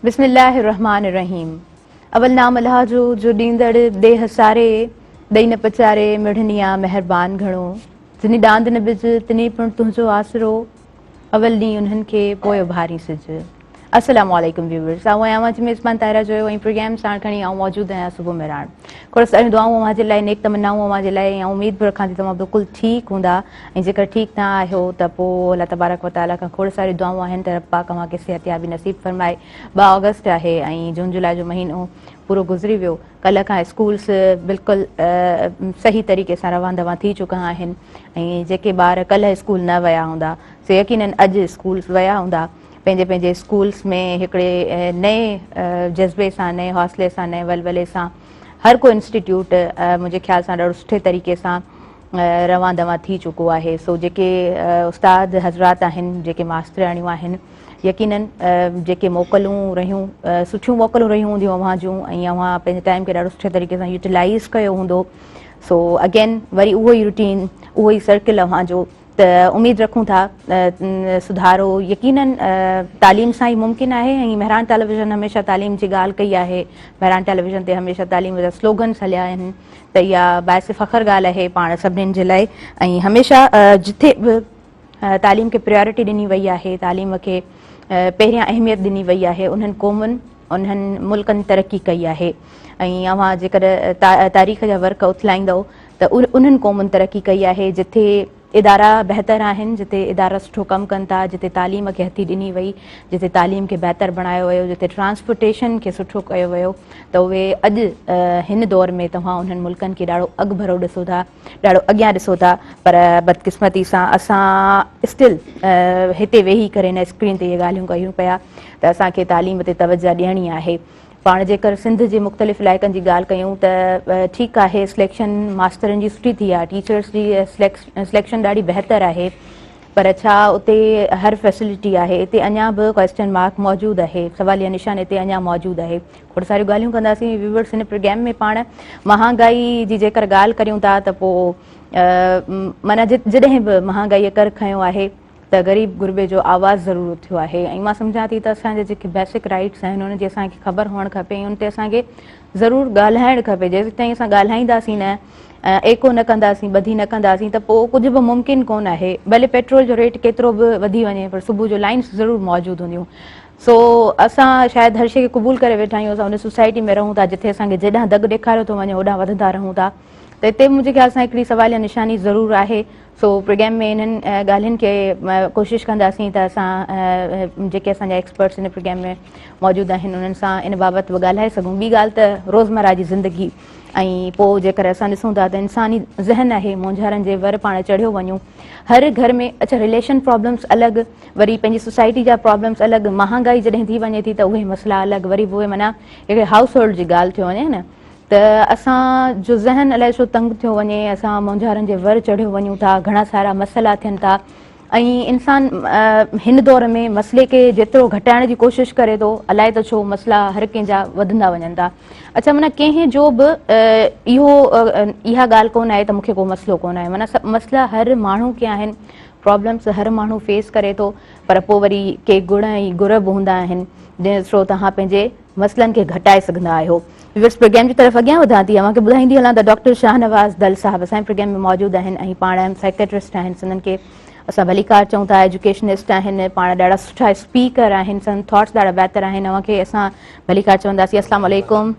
بسم الله الرحمٰن الرحيم اول نام الله جو جو ڏيندڙ ڏيھ ساري ڏئي نه پچاري مڙھني آ مھربان گھڻو جنھي ڏاند نه بج تنھي پڻ تنھنجو آسرو اول ڏينهن انهن کي پوء اڀارين سج. السلام عليڪم ويورز آئون آهيان اوهان جي ميزبان طاهره جويو ۽ پروگرام ساڻ کڻي آئون موجود آهيان صبح مهراڻ کورس اهڙيون دعائون اوهان جي لاء نيڪ تمنائون اوهان جي لاء ۽ آئون اميد به رکان ٿي توهان بلڪل ٺيڪ هوندا ۽ جيڪر ٺيڪ نه آهيو ته پوء الله تبارڪ وتعالي کان کورس اهڙيون دعائون آهن ته رب پاڪ اوهان کي صحتيابي نصيب فرمائي ٻه آگسٽ آهي ۽ جون جولاء جو مهينو پورو گذري ويو ڪلهه کان اسڪولز بلڪل صحيح طريقي سان روان دوان ٿي چڪا آهن ۽ جيڪي ٻار ڪلهه اسڪول نه ويا هوندا سي يقينن اڄ اسڪول ويا هوندا پنهنجي پنهنجي اسڪولز ۾ هڪڙي نئين جذبي سان نئين حوصلي سان نئين ولولي سان هر ڪو انسٽيٽيوٽ منهنجي خيال سان ڏاڍو سٺي طريقي سان روان دوان ٿي چڪو آهي سو جيڪي استاد حضرات آهن جيڪي ماسترياڻيون آهن يقينن جيڪي موڪلون رهيون سٺيون موڪلون رهيون هونديون اوهان جون ۽ اوهان پنهنجي ٽائيم کي ڏاڍو سٺي طريقي سان يوٽيلائيز ڪيو هوندو سو اگين وري اهو ئي روٽين اهو ئي سرڪل اوهان جو ته اميد رکون ٿا سڌارو يقينن تعليم سان ئي ممڪن آهي ۽ مهراڻ ٽيليويزن هميشه تعليم جي ڳالهه ڪئي آهي مهراڻ ٽيليويزن تي هميشه تعليم جا سلوگنس هليا آهن ته اها باعث فخر ڳالهه آهي پاڻ سڀني جي لاء ۽ هميشه جتي به تعليم کي پريارٽي ڏني وئي آهي، تعليم کي پهريان اهميت ڏني وئي آهي، انهن قومن انهن ملڪن ترقي ڪئي آهي ۽ اوهان جيڪڏهن تاريخ جا ورق اٿلائيندؤ ته انهن قومن ترقي ڪئي آهي جتي ادارا بهتر آهن، جتي ادارا سٺو ڪم ڪن ٿا، جتي تعليم کي هٿي ڏني وئي، جتي تعليم کي بهتر بڻايو ويو، جتي ٽرانسپورٽيشن کي سٺو ڪيو ويو ته اهي اڄ هن دور ۾ توهان انهن ملڪن کي ڏاڍو اڳڀرو ڏسو ٿا. ڏاڙهو اڳيان ڏسو ٿا پر بدقسمتي سان اسان اسٽل هتي ويهي ڪري هن اسڪرين تي اهي ڳالهيون ڪيون پيا ته اسان کي تعليم تي توجهه ڏيڻي آهي پاڻ جيڪر سنڌ جي مختلف علائقن جي ڳالهه ڪيون ته ٺيڪ آهي سليڪشن ماسترن جي سٺي ٿي آهي ٽيچرس جي سليڪشن ڏاڍي بهتر آهي پر ڇا اتي هر فيسلٽي آهي اتي اڃا به ڪويسچن مارڪ موجود آهي سواليه نشان اتي اڃا موجود آهي کوڙ ساريون ڳالهيون ڪنداسين ويورز هن پروگرام ۾ پاڻ مهانگائي جي جيڪر ڳالهه ڪريون ٿا ته پوء معنيٰ جڏهن به مهانگائي ڪر کنيو آهي ته غريب غربي جو آواز ضرور اٿيو آهي ۽ مان سمجهان ٿي ته اسان جا جيڪي بيسڪ رائيٽس آهن ان جي اسان کي خبر هئڻ کپي ۽ ان تي اسان کي ضرور ڳالهائڻ کپي جيستائين اسان ڳالهائينداسين نه ايڪو نه ڪنداسين ٻڌي نه ڪنداسين ته پوء ڪجهه به ممڪن ڪون آهي ڀلي پيٽرول جو ريٽ ڪيترو به وڌي وڃي پر صبح جو لائنس ضرور موجود هونديون سو اسان شايد هر شيء کي قبول ڪري ويٺا آهيون، اسان ان سوسائٽي ۾ رهون ٿا جتي اسان کي جيڏانهن دڳ ڏيکاريو ٿو وڃي هوڏانهن وڌندا رهون ٿا ته اتي منهنجي خيال سان هڪڙي سواليه نشاني ضرور آهي سو پروگرام ۾ انهن ڳالهين کي ڪوشش ڪنداسين ته اسان جيڪي اسان جا ايڪسپرٽس ان پروگرام ۾ موجود آهن انهن سان ان بابت به ڳالهائي سگهون ٻي ڳالهه ته روزمرا جي زندگي ۽ پوء جيڪر اسان ڏسون ٿا ته انساني ذهن آهي مونجهارن جي ور پاڻ چڙهيو وڃون هر گهر ۾ اڇا رليشن پرابلمس الڳ وري پنهنجي سوسائٽي جا پرابلمس الڳ مهانگائي جڏهن ٿي وڃي ٿي ته اهي مسئلا الڳ وري به اهي معنيٰ هڪڙي هائوس هولڊ جي ڳالهه ٿيو وڃي نه ته اسان جو ذهن الائي ڇو تنگ ٿيو وڃي اسان مونجهارن جي ور چڙهيو وڃون ٿا گهڻا سارا مسئلا ٿين ٿا ۽ انسان هن دور ۾ مسئلي کي جيترو گهٽائڻ جي ڪوشش ڪري ٿو الائي ته ڇو مسئلا هر ڪنهن جا وڌندا وڃن ٿا اڇا معنيٰ ڪنهن جو به اهو اها ڳالهه ڪونه آهي ته مون کي ڪو مسئلو ڪونه آهي معنيٰ مسئلا هر ماڻهو کي آهن پرابلمز هر ماڻهو فيس ڪري ٿو پر پوء وري ڪي گڻ ۽ گر به هوندا آهن جنهن ٿرو توهان پنهنجي مسئلن کي گهٽائي سگهندا آهيو. ويورز پروگرام جي طرف اڳيان وڌان ٿي اوهان کي ٻڌائيندي هلان ته ڊاڪٽر شاهنواز دل صاحب اسان پروگرام ۾ موجود آهن ۽ پاڻ سائڪيٽرسٽ آهن سندن کي اسان ڀليڪار چئون ٿا ايجوڪيشنسٽ آهن پاڻ ڏاڍا سٺا اسپيڪر آهن سندن ٿاٽس ڏاڍا بهتر آهن اوهان کي اسان ڀليڪار چونداسين السلام عليڪم.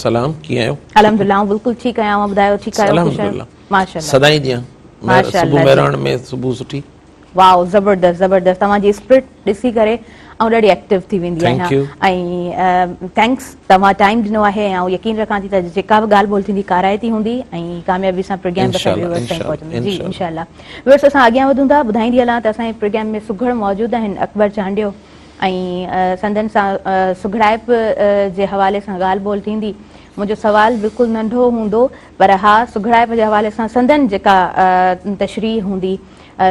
سلام ڪيئن آهيو. الحمدلله آئون بلڪل ٺيڪ آهيان اوهان ٻڌايو ٺيڪ آهيو خوش آهيو. ماشاءالله سدائين جيان ماشاء الله مهراڻ ۾ صبح سٺي واو زبردست زبردست توهان جي اسپرٽ ڏسي ڪري آئون ڏاڍي ايڪٽيو ٿي ويندي آهيان ۽ ٿينڪس توهان ٽائيم ڏنو آهي ۽ آئون يقين رکان ٿي ته جيڪا به ڳالهه ٻولهه ٿيندي ڪارائتي هوندي ۽ ڪاميابي سان پروگرام اسان جي ويورز تائين پهچندو جي انشاء الله ويورز اسان اڳيان وڌون ٿا ٻڌائيندي هلان ته اسان جي پروگرام ۾ سگهڙ موجود آهن اڪبر چانڊيو ۽ سندن سان سگهڙائپ جي حوالي سان ڳالهه ٻولهه ٿيندي منهنجو سوال بلڪل ننڍو هوندو پر ها سگهڙائپ جي حوالي سان سندن جيڪا تشريح هوندي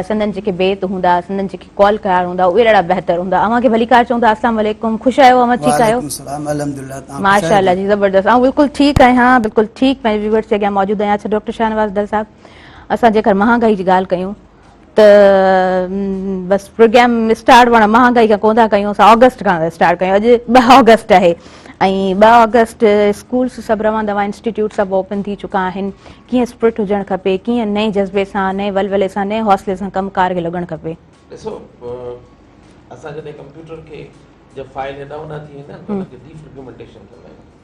سندن جيڪي بيت هوندا سندن جيڪي قول قرار هوندا اهي ڏاڍا بهتر هوندا اوهان کي ڀليڪار چئون ٿا السلام عليڪم خوش آهيو اوهان ٺيڪ آهيو وعليڪم السلام الحمدلله توهان خوش آهيو ماشاءالله جي زبردست آئون بلڪل ٺيڪ آهيان بلڪل ٺيڪ پنهنجي ويورز جي اڳيان موجود آهيان اڇا ڊاڪٽر شاهنواز ڊل صاحب اسان جيڪر مهانگائي جي ڳالهه ڪيون ته بس پروگرام اسٽارٽ پاڻ مهانگائي کان ڪونه ٿا ڪيون اسان آگسٽ کان اسٽارٽ ڪيون اڄ ٻه آگسٽ آهي ۽ ٻه آگسٽ اسڪولس سڀ روان دوان انسٽيٽيوٽ سڀ اوپن ٿي چڪا آهن ڪيئن اسپرٽ هجڻ کپي ڪيئن نئين جذبي سان نئين ولولي سان نئين حوصلي سان ڪم ڪار کي لڳڻ کپي ڏسو اسان جڏهن ڪمپيوٽر کي جب فائل هيڏانهون هوڏانهن ٿي ويندا آهن ته ان کي ڊي فرگمنٽيشن چوندا آهيون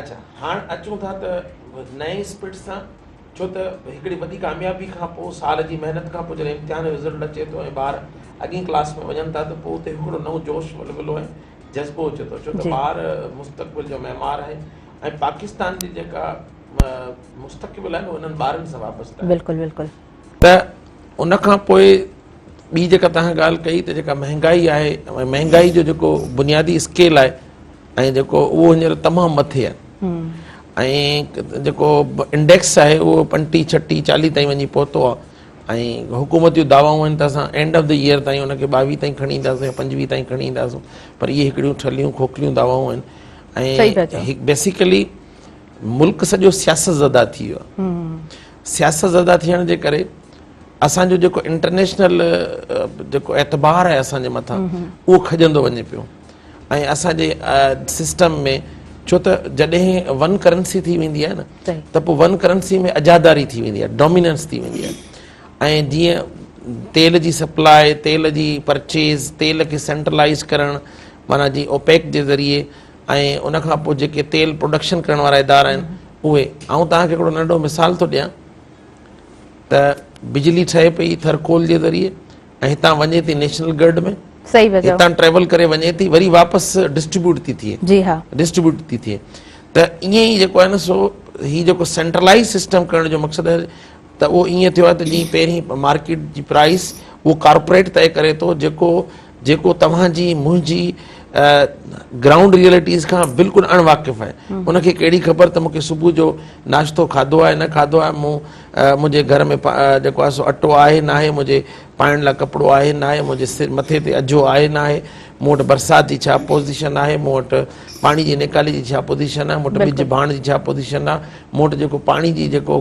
اچا هاڻ اچون ٿا ته نئين اسپرٽ سان ڇو ته هڪڙي وڏي ڪاميابي کان پوء سال جي محنت کان پوء جڏهن امتحان جو رزلٽ اچي ٿو ۽ ٻار اڳين ڪلاس ۾ وڃن ٿا ته پوء اتي هڪڙو نئون جوش ولولو ۽ جذبو اچي ٿو ڇو ته ٻار مستقبل جو معمار آهن ۽ پاڪستان جي جيڪا مستقبل آهي انهن ٻارن سان وابسته آهي ته ان کان پوء ٻي جيڪا تنهن ڳالهه ڪئي ته جيڪا مهنگائي آهي ۽ مهنگائي جو جيڪو بنيادي اسڪيل آهي ۽ جيڪو اهو هينئر تمام مٿي آهي ۽ جيڪو انڊيڪس آهي اهو پنٽي ڇٽي چاليهه تائين وڃي پهتو آهي ۽ حڪومت جون دعوائون آهن ته اسان اينڊ آف دي ايئر تائين ان کي ٻاويهه تائين کڻي اينداسون يا پنجويهه تائين کڻي اينداسون پر اهي هڪڙيون ٺلهيون کوکليون دعوائون آهن ۽ بيسيڪلي ملڪ سڄو سياست زده ٿي ويو آهي سياستزده ٿيڻ جي ڪري اسان جو جيڪو انٽرنيشنل جيڪو اعتبار آهي اسان جي مٿان اهو کڄندو وڃي پيو ۽ اسان جي سسٽم ۾ ڇو ته جڏهن ون ڪرنسي ٿي ويندي آهي نه ته پوء ون ڪرنسي ۾ اجاداري ٿي ويندي آهي ڊوميننس ٿي ويندي آهي ۽ جيئن تيل جي سپلاء تيل جي پرچيز تيل کي سينٽرلائز ڪرڻ معنيٰ جي اوپيڪ جي ذريعي ۽ ان کان پوء جيڪي تيل پروڊڪشن ڪرڻ وارا ادارا آهن اهي آئون توهان کي هڪڙو ننڍو مثال ٿو ڏيان ته بجلي ٺهي پئي ٿرڪول جي ذريعي ۽ هتان وڃي ٿي نيشنل گرڊ ۾ هتان ٽريول ڪري وڃي ٿي وري واپس ڊسٽريبيوٽ ٿي ٿئي ڊسٽريبيوٽ ٿي ٿئي ته ائين ئي جيڪو آهي نه سو هي جيڪو سينٽرلائز سسٽم ڪرڻ جو مقصد ته اهو ائين ٿيو آهي ته جيئن پهرين مارڪيٽ جي پرائيس اهو ڪارپوريٽ طئي ڪري ٿو جيڪو جيڪو توهان جي منهنجي گرائونڊ ريئلٽيز کان بلڪل اڻ واقف آهي ان کي ڪهڙي خبر ته مونکي صبح جو ناشتو کاڌو آهي نه کاڌو آهي مون منهنجي گهر ۾ جيڪو آهي سو اٽو آهي نه آهي منهنجي پائڻ لاء ڪپڙو آهي نه آهي منهنجي سر مٿي تي اجهو آهي نه آهي مون وٽ برسات جي ڇا پوزيشن آهي مون وٽ پاڻي جي نيڪالي جي ڇا پوزيشن آهي مون وٽ ٻج ڀاڻ جي ڇا پوزيشن آهي مون وٽ جيڪو پاڻي جي جيڪو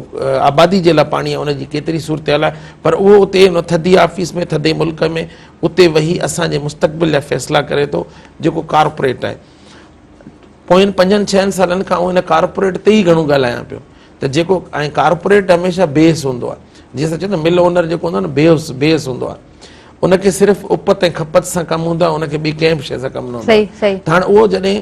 آبادي جي لاء پاڻي آهي ان جي ڪيتري صورتحال آهي پر اهو اتي ان ٿڌي آفيس ۾ ٿڌي ملڪ ۾ اتي ويهي اسان جي مستقبل جا فيصلا ڪري ٿو جيڪو ڪارپوريٽ آهي پوين پنجن ڇهن سالن کان ان ڪارپوريٽ تي ئي گهڻو ڳالهايان پيو ته جيڪو ۽ ڪارپوريٽ هميشه بيس هوندو آهي جيئن اسان چوندا مل اونر جيڪو هوندو آهي بيس بيس هوندو آهي ان کي صرف اپت ۽ کپت سان ڪم هوندو آهي ان کي ٻي ڪنهن به شيء سان ڪم نه هوندو آهي ته هاڻي اهو جڏهن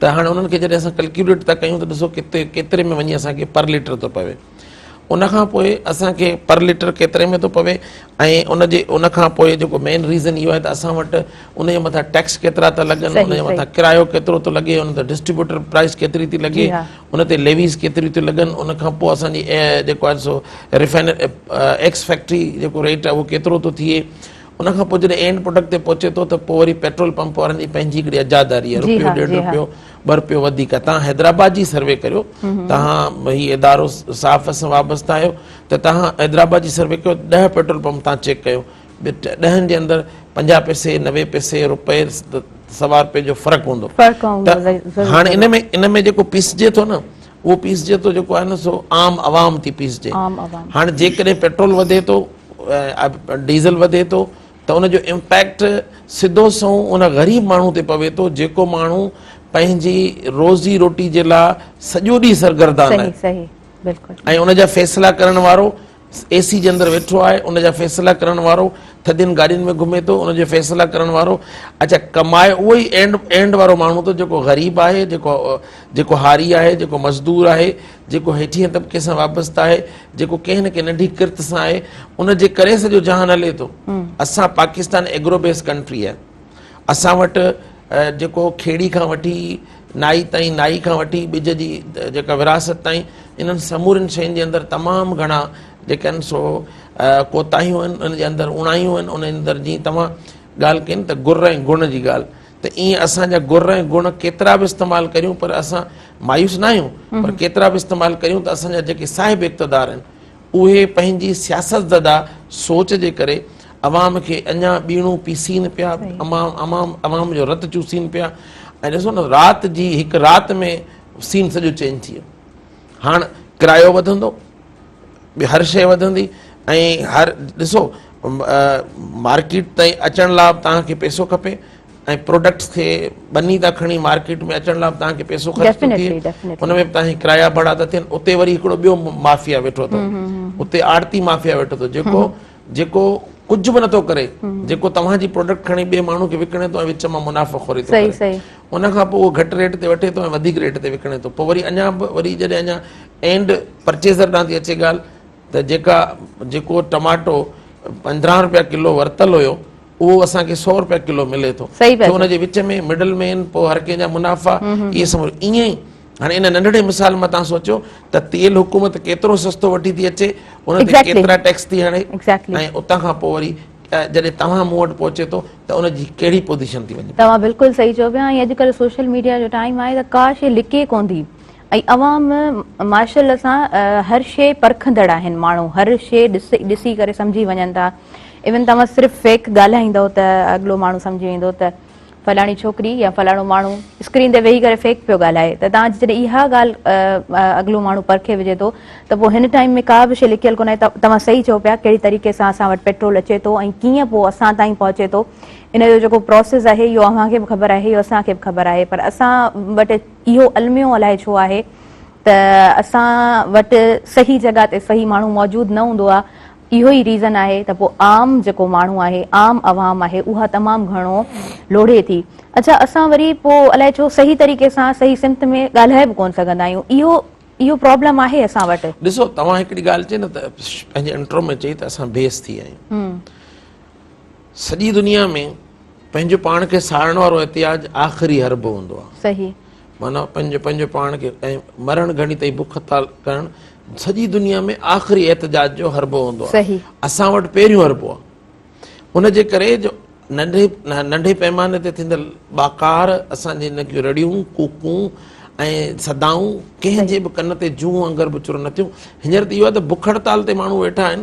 ته هاڻي انهن کي جڏهن اسان ڪلڪيوليٽ ٿا ڪيون ته ڏسو ڪتي ڪيتري ۾ وڃي اسان کي پر ليٽر ٿو پوي ان کان پوء اسان کي پر ليٽر ڪيتري ۾ ٿو پوي ۽ ان جي ان کان پوء جيڪو مين ريزن اهو آهي ته اسان وٽ ان جي مٿان ٽيڪس ڪيترا ٿا لڳن ان جي مٿان ڪرايو ڪيترو ٿو لڳي ان تي ڊسٽريبيوٽر پرائز ڪيتري ٿي لڳي ان تي ليويز ڪيتريون ٿيون لڳن ان کان پوء اسانجي جيڪو آهي سو ريفائنر ايڪس فيڪٽري جيڪو ريٽ آهي اهو ڪيترو ٿو ٿئي ان کان پوء جڏهن اينڊ پروڊڪٽ تي پهچي ٿو ته پوء وري پيٽرول پمپ وارن جي پنهنجي هڪڙي اجاداري آهي رپيو ڏيڍ رپيو ٻه رپيو وڌيڪ آهي تهان حيدرآباد جي سروي ڪريو تهان هي ادارو صاف سان وابسته آهيو ته تهان حيدرآباد جي سروي ڪيو ڏهه پيٽرول پمپ تهان چيڪ ڪيو ڏهن جي اندر پنجاهه پئسي نوي پئسي رپئي سوا رپئي جو فرق هوندو ته هاڻي ان ۾ ان ۾ جيڪو پيسجي ٿو نه اهو پيسجي ٿو جيڪو آهي نه سو عام عوام ٿي پيسجي هاڻي جيڪڏهن پيٽرول وڌي ٿو ڊيزل وڌي ٿو ته ان جو امپيڪٽ سڌو سنئون ان غريب ماڻهو تي پوي ٿو جيڪو ماڻهو پنهنجي روزي روٽي جي لاء سڄو ڏينهن سرگردان آهي ۽ ان جا فيصلا ڪرڻ وارو اي سي جي اندر ويٺو آهي ان جا فيصلا ڪرڻ وارو ٿڌين گاڏين ۾ گهمي ٿو ان جي فيصلا ڪرڻ وارو اڇا ڪمائي اهو ئي اينڊ اينڊ وارو ماڻهو ٿو جيڪو غريب آهي جيڪو جيڪو هاري آهي جيڪو مزدور آهي جيڪو هيٺين طبقي سان وابسته آهي جيڪو ڪنهن نه ڪنهن ننڍي ڪرت سان آهي ان جي ڪري سڄو جهان هلي ٿو اسان پاڪستان ايگرو بيس ڪنٽري آهي اسان وٽ جيڪو کيڙي کان وٺي نائي تائين، نائي کان وٺي ٻج جي جيڪا ورهاست تائين انهن سمورين شين جي اندر تمام گهڻا جيڪا آهن سو ڪوتاهيون آهن، ان جي اندر اوڻايون آهن، ان جي اندر جيئن توهان ڳالهه ڪئي نه ته گر ۽ گڻ جي ڳالهه ته ايئن اسان جا گر ۽ گڻ ڪيترا به استعمال ڪريون پر اسان مايوس نه آهيون پر ڪيترا به استعمال ڪريون ته اسان جا جيڪي صاحب اقتدار آهن، اهي پنهنجي سياست زده سوچ جي ڪري عوام کي اڃا ٻيڻو پيسين پيا، عوام جو رت چوسين پيا ۽ ڏسو نه رات جي هڪ رات ۾ سين سڄو چينج ٿي ويو. هاڻ ڪرايو وڌندو، ٻي هر شيء وڌندي ۽ هر ڏسو مارڪيٽ تائين اچڻ لاء به توهان کي پيسو کپي، ۽ پروڊڪٽس کي ٻني تان کڻي مارڪيٽ ۾ اچڻ لاء به توهان کي پئسو خرچ ٿو ٿئي ان ۾ به توهان کي ڪرايا ڀاڙا ٿا ٿين اتي وري هڪڙو ٻيو مافيا ويٺو اٿو اتي آڙتي مافيا ويٺو اٿو جيڪو جيڪو ڪجهه به نٿو ڪري جيڪو توهان جي پروڊڪٽ کڻي ٻئي ماڻهو کي وڪڻي ٿو ۽ وچ مان منافع خوري ٿو ڪري ان کان پوء اهو گهٽ ريٽ تي وٺي ٿو ۽ وڌيڪ ريٽ تي وڪڻي ٿو پوء وري اڃا به وري جڏهن اڃا اينڊ پرچيزر ڏانهن ٿي اچي ڳالهه ته جيڪا جيڪو ٽماٽو پنڌرهن روپيا ڪلو ورتل هيو اهو اسان کي سؤ روپيا ڪلو ملي ٿو ته ان جي وچ ۾ مڊل مين پوء هر ڪنهن جا منافع اهي سمجهو ائين ئي هاڻي ان ننڍڙي مثال مان تان سوچيو ته تيل حڪومت ڪيترو سستو وٺي ٿي اچي ان تي ڪيترا ٽيڪس ٿي هڻي ۽ اتان کان پوء وري جڏهن توهان مون وٽ پهچي ٿو ته ان جي ڪهڙي پوزيشن ٿي وڃي توهان بلڪل صحيح چيو پيا ۽ اڄڪلهه سوشل ميڊيا جو ٽائيم آهي ته ڪا شيء لڪي ڪونه ٿي ۽ عوام ماشاءالله سان هر شي پرکندڙ آهن ماڻهو هر شي ڏسي ڪري سمجهي وڃن ٿا ايون توهان صرف فيڪ ڳالهائيندو ته اڳلو ماڻهو سمجهي ويندو ته فلاڻي ڇوڪري يا فلاڻو ماڻهو اسڪرين تي ويهي ڪري فيڪ پيو ڳالهائي ته توهان جي جڏهن اها ڳالهه اڳلو ماڻهو پرکي وجهي ٿو ته پوء هن ٽائيم ۾ ڪا به شي لڪيل ڪونه آهي توهان صحيح چئو پيا ڪهڙي طريقي سان اسان وٽ پيٽرول اچي ٿو ۽ ڪيئن پوء اسان تائين پهچي ٿو ان جو جيڪو پروسيس آهي اهو اوهان کي به خبر آهي اهو اسان کي به خبر آهي پر اسان وٽ اهو الميو الائي ڇو آهي ته اسان وٽ صحيح جڳهه تي صحيح ماڻهو موجود نه هوندو آهي اهو ئي ريزن آهي ته پوء عام جيڪو ماڻهو آهي عام عوام آهي اها تمام گهڻو لوڙهي ٿي اڇا اسان وري پوء الائي ڇو صحيح طريقي سان صحيح سمت ۾ ڳالهائي به ڪون سگهندا آهيون اهو اهو پرابلم آهي اسان وٽ. ڏسو توهان هڪڙي ڳالهه چئي نه ته پنهنجي انٽرو ۾ چئي ته اسان بي حس ٿي ويا آهيون. سڄي دنيا ۾ پنهنجو پاڻ کي ساڙڻ وارو احتياج آخري حربو هوندو آهي صحيح معنيٰ پنهنجو پنهنجو پاڻ کي ۽ مرڻ گهڙي تائين بک هتال ڪرڻ سڄي دنيا ۾ آخري احتجاج جو حربو هوندو آهي صحيح اسان وٽ پهريون حربو آهي ان جي ڪري جو ننڍي ننڍي پيماني تي ٿيندڙ ٻاڪار اسان جي ان جون رڙيون ڪوڪون ۽ صدائون ڪنهن جي به ڪن تي جون وانگر به چرن نه ٿيون هينئر ته اهو آهي ته بک هڙتال تي ماڻهو ويٺا آهن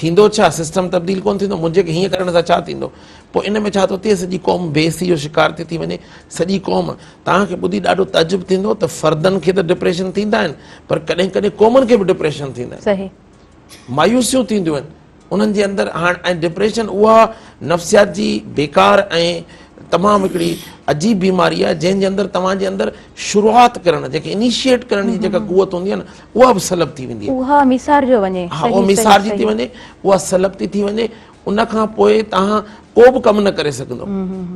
ٿيندو ڇا سسٽم تبديل ڪونه ٿيندو منهنجي کي هيئن ڪرڻ سان ڇا ٿيندو پوء ان ۾ ڇا ٿو ٿئي سڄي قوم بي حسي جو شڪار ٿي ٿي وڃي سڄي قوم توهان کي ٻڌي ڏاڍو تعجب ٿيندو ته فردن کي ته ڊپريشن ٿيندا آهن پر ڪڏهن ڪڏهن قومن کي به ڊپريشن ٿيندا آهن مايوسيون ٿينديون آهن انهن جي اندر هاڻ ۽ ڊپريشن اها نفسيات جي بيڪار ۽ تمام هڪڙي عجيب بيماري آهي جنهن جي اندر توهان جي اندر شروعات ڪرڻ جيڪي انيشيئيٽ ڪرڻ جي جيڪا قوت هوندي آهي نه اها به سلب ٿي ويندي اها ميسار جو وڃي ها اها ميسار جي ٿي وڃي اها سلب ٿي ٿي وڃي ان کان پوء تان ڪو به ڪم نه ڪري سگهندو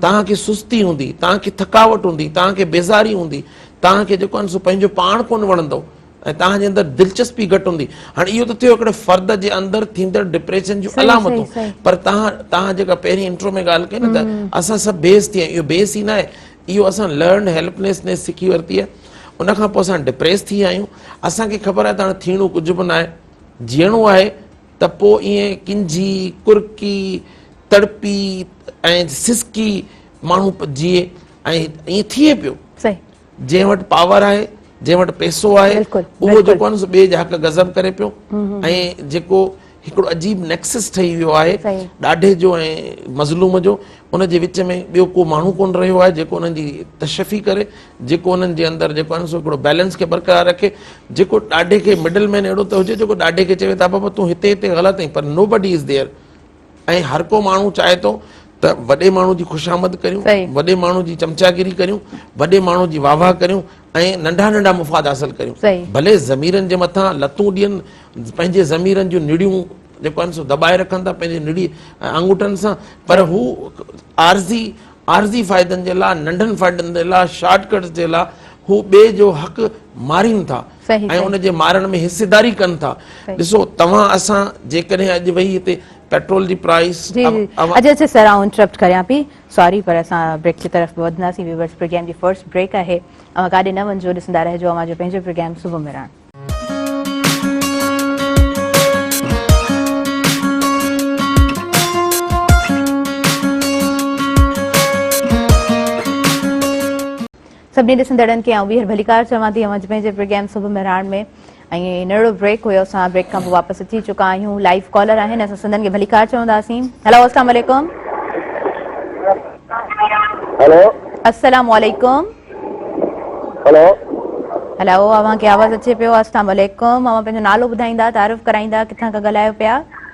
تان کي سستي هوندي تان کي ٿڪاوٽ هوندي تان کي بيزاري هوندي تان کي جيڪو سو پنهنجو پاڻ ڪون وڻندو ۽ تان جي اندر دلچسپي گهٽ هوندي هاڻ اهو ته ٿيو هڪڙي فرد جي اندر ٿيندڙ ڊپريشن جون علامتون پر تان تان جيڪا پهرين انٽرو ۾ ڳالهه ڪئي نه ته اسان سڀ بيس ٿي اهو بيس ئي نه آهي اهو اسان لرنڊ هيلپنيس نيس سکي ورتي آهي ان کان پوء اسان ڊپريس ٿي ويا آهيون اسان کي خبر آهي ته هاڻي ٿيڻو ڪجهه به ناهي جيئڻو آهي ته پوء ائين ڪنجهي ڪرڪي تڙپي ۽ سسڪي ماڻهو جيئي ۽ ائين ٿئي پيو جنهن وٽ پاور آهي جنهن وٽ پيسو آهي اهو جيڪو آهي سو ٻئي جا حق غضب ڪري پيو ۽ جيڪو هڪڙو عجيب نيڪسس ٺهي ويو آهي ڏاڍي جو ۽ مظلوم جو ان جي وچ ۾ ٻيو ڪو ماڻهو ڪونه رهيو آهي جيڪو انهن جي تشفي ڪري جيڪو انهن جي اندر جيڪو آهي سو هڪڙو بيلنس کي برقرار رکي جيڪو ڏاڍي کي مڊل مين اهڙو ته هجي جيڪو ڏاڍي کي چوي ته بابا تون هتي هتي غلط آهين پر نو بڊي از ديئر ۽ هر ڪو ماڻهو چاهي ٿو ته وڏي ماڻهو جي خوشامد ڪريون وڏي ماڻهو جي چمچاگيري ڪريون وڏي ماڻهو جي واهه واهه ڪريون ۽ ننڍا ننڍا مفاد حاصل ڪريون ڀلي ضميرن جي مٿان لتون ڏين پنهنجي ضميرن جون نڙيون جيڪو آهن سو دٻائي رکن ٿا پنهنجي نڙي آنگوٺن سان پر هو عارضي عارضي فائدن جي لاء ننڍن فائدن جي لاء شارٽ ڪٽس جي لاء هو ٻئي جو حق مارين ٿا ۽ ان جي مارڻ ۾ حصيداري ڪن ٿا ڏسو توهان اسان جيڪڏهن اڄ ويهي هتي پيٽرول جي پرائس جي جي اڄ اچي سر آئون انٽرپٽ ڪريان پي ساري پر اسان بريڪ جي طرف به وڌنداسين ويورز پروگرام جي فرسٽ بريڪ آهي اوهان ڪاڏي نه وڃجو ڏسندا رهجو اوهان جو پنهنجو پروگرام صبح مهراڻ. سڀني ڏسندڙن کي آئون ٻيهر ڀليڪار چوان ٿي اوهان پنهنجي پروگرام صبح مهراڻ ۾ ۽ نڙو بريڪ هيو اسان بريڪ کان پوء واپس اچي چڪا آهيون لائيو ڪالر آهن اسان سندن کي ڀليڪار چونداسين هلو السلام عليڪم هلو السلام عليڪم هلو هلو اوهان کي آواز اچي پيو السلام عليڪم اوهان پنهنجو نالو ٻڌائيندا تعارف ڪرائيندا ڪٿان کان ڳالهايو پيا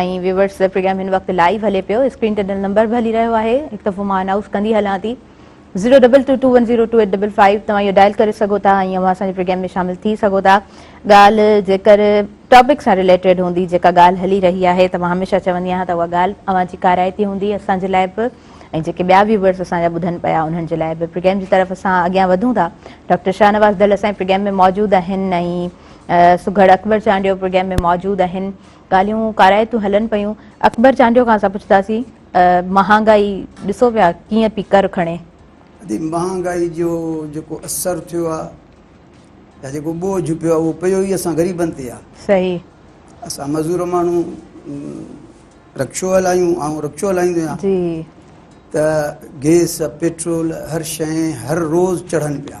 ۽ ويورس پروگرام هن وقت لائيو هلي پيو اسڪرين تي ڏنل نمبر به هلي رهيو آهي هڪ دفعو مان انائوس ڪندي هلان ٿي zero double two two one zero two eight double five توهان اهو ڊائل ڪري سگهو ٿا ۽ اوهان اسان جي پروگرام ۾ شامل ٿي سگهو ٿا ڳالهه جيڪر ٽاپڪ سان ريليٽيڊ هوندي جيڪا ڳالهه هلي رهي آهي ته مان هميشه چوندي آهيان ته اها ڳالهه اوهان جي ڪارائتي هوندي اسان جي لاء به ۽ جيڪي ٻيا ويورس اسان جا ٻڌن پيا انهن جي لاء به پروگرام جي طرف اسان اڳيان وڌون ٿا ڊاڪٽر شاهنواز دل اسان جي پروگرام ۾ موجود آهن ۽ سگهڙ اڪبر چانڊيو پروگرام ۾ موجود آهن ڳالهيون ڪارائتون هلن پيون. اڪبر چانڊيو کان اسان پڇتاسين مهانگائي ڏسو پيا ڪيئن پي ڪر کڻي. ادي مهانگائي جو جيڪو اثر ٿيو آ يا جيڪو ٻوجهه پيو آ اهو پيو ئي اسان غريبن تي آ. صحيح. اسان مزور ماڻهو رڪشو هلايون آئون رڪشو هلائيندو آهيان. جي. ته گيس پيٽرول هر شئي هر روز چڙهن پيا.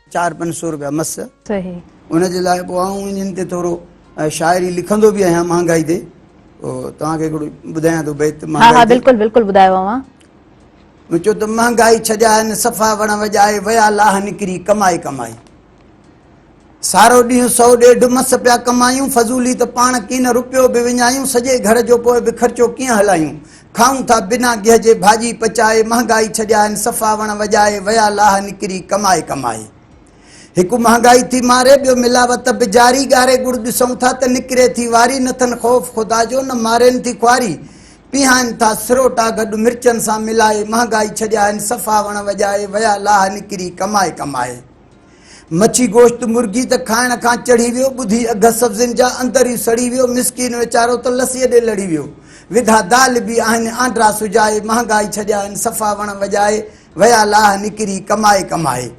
چار پنج سو روپيا مس صحيح ان جي لاء پوء آئون انهن تي ٿورو شاعري لکندو به آهيان مهانگائي تي توهان کي هڪڙو ٻڌايان ٿو بيت مهانگائي ها ها بلڪل بلڪل ٻڌايو اوهان مون چيو ته مهانگائي ڇڏيائين صفا وڻ وڄائي ويا لاهه نڪري ڪمائي ڪمائي سارو ڏينهن سو ڏيڍ مس پيا ڪمايون فضولي ته پاڻ ڪين رپيو به وڃايون سڄي گهر جو پوء به خرچو ڪيئن هلايون کائون ٿا بنا گيهه جي ڀاڄي پچائي مهانگائي ڇڏيا آهن صفا وڻ وڄائي ويا لاهه نڪري ڪمائي ڪمائي هڪ مهانگائي ٿي ماري ٻيو ملاوت به جاري ڳاري ڳڙ ڏسون ٿا ته نڪري ٿي واري نه ٿن خوف خدا جو نه مارين ٿي خواري پيهائن ٿا سروٽا گڏ مرچن سان ملائي مهانگائي ڇڏيا آهن صفا وڻ وڄائي ويا لاهه نڪري ڪمائي ڪمائي. مڇي گوشت مرغي ته کائڻ کان چڙهي ويو ٻڌي اگهه سبزين جا اندر ئي سڙي ويو مسڪين ويچارو ته لسيء ڏي لڙي ويو وڌا دال به آهن آنڊرا سجائي مهانگائي ڇڏيائين صفا وڻ وڄائي ويا لاهه نڪري ڪمائي ڪمائي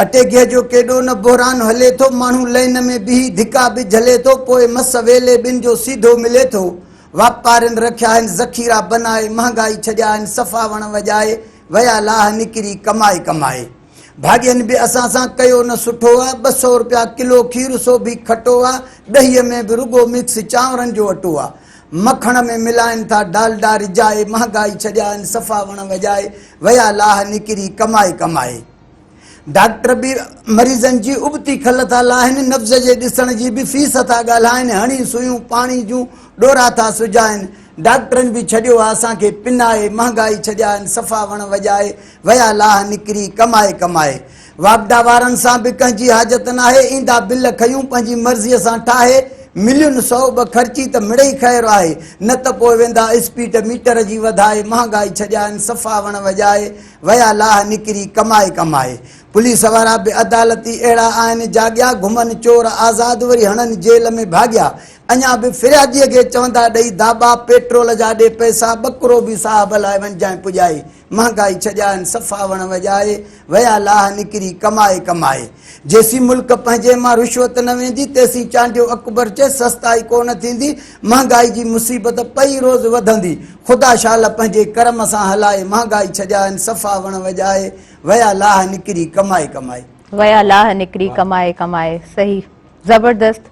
اٽي گيهه جو ڪيڏو نه بحران هلي ٿو ماڻهو لئن ۾ بيهي ڌڪا به جهلي ٿو پوء مس ويلي ٻن جو سيڌو ملي ٿو واپارين رکيا آهن ذخيرا بنائي مهانگائي ڇڏيا آهن صفا وڻ وڄائي ويا لاهه نڪري ڪمائي ڪمائي. ڀاڳين به اسان سان ڪيو نه سٺو آ، ٻه سئو رپيا ڪلو کير سو به کٽو آ، ڏهيء ۾ به رڳو مڪس چانورن جو اٽو آ. مکڻ ۾ ملائين ٿا ڊالڊا رجائي، مهانگائي ڇڏيائين صفا وڻ وڄائي، ويا لاهه نڪري ڪمائي ڪمائي. ڊاڪٽر به مريضن جي ابتي کل ٿا لاهن، نبض جي ڏسڻ جي به فيس ٿا ڳالهائن، هڻي سوئيون پاڻي جون ڏورا ٿا سجائن. ڊاڪٽرن به ڇڏيو آ اسان کي پنائي، مهانگائي ڇڏيائين صفا وڻ وڄائي، ويا لاهه نڪري ڪمائي ڪمائي. واپڊا وارن سان به ڪنهن جي حاجت ناهي، ايندا بل کيون پنهنجي مرضيء سان ٺاهي، ملين سؤ ٻه خرچي ته مڙئي خير آهي، نه ته پوء ويندا اسپيڊ ميٽر جي وڌائي، مهانگائي ڇڏيائين صفا وڻ وڄائي، ويا لاھ نڪري ڪمائي ڪمائي. پوليس وارا بي عدالتي اهڙا آهن جاڳيا گهمن چور آزاد وري هڻن جيل ۾ ڀاڳيا اڃا به فريادي کي چوندا ڏئي داٻا پيٽرول جا ڏي پئسا ٻڪرو به صاحب لاء وڃجانء پڄائي مهانگائي ڇڄائن صفا وڻ وڄائي ويا لاھ نڪري ڪمائي ڪمائي. جيسين ملڪ پنهنجي مان رشوت نه ويندي تيسين چانڊيو اڪبر چئي سستائي ڪونه ٿيندي مهانگائي جي مصيبت پئي روز وڌندي خدا شال پنهنجي ڪرم سان هلائي مهانگائي ڇڄائين صفا وڻ وڄائي ويا لاهه نڪري ڪمائي ڪمائي. ويا لاهه نڪري ڪمائي ڪمائي صحيح زبردست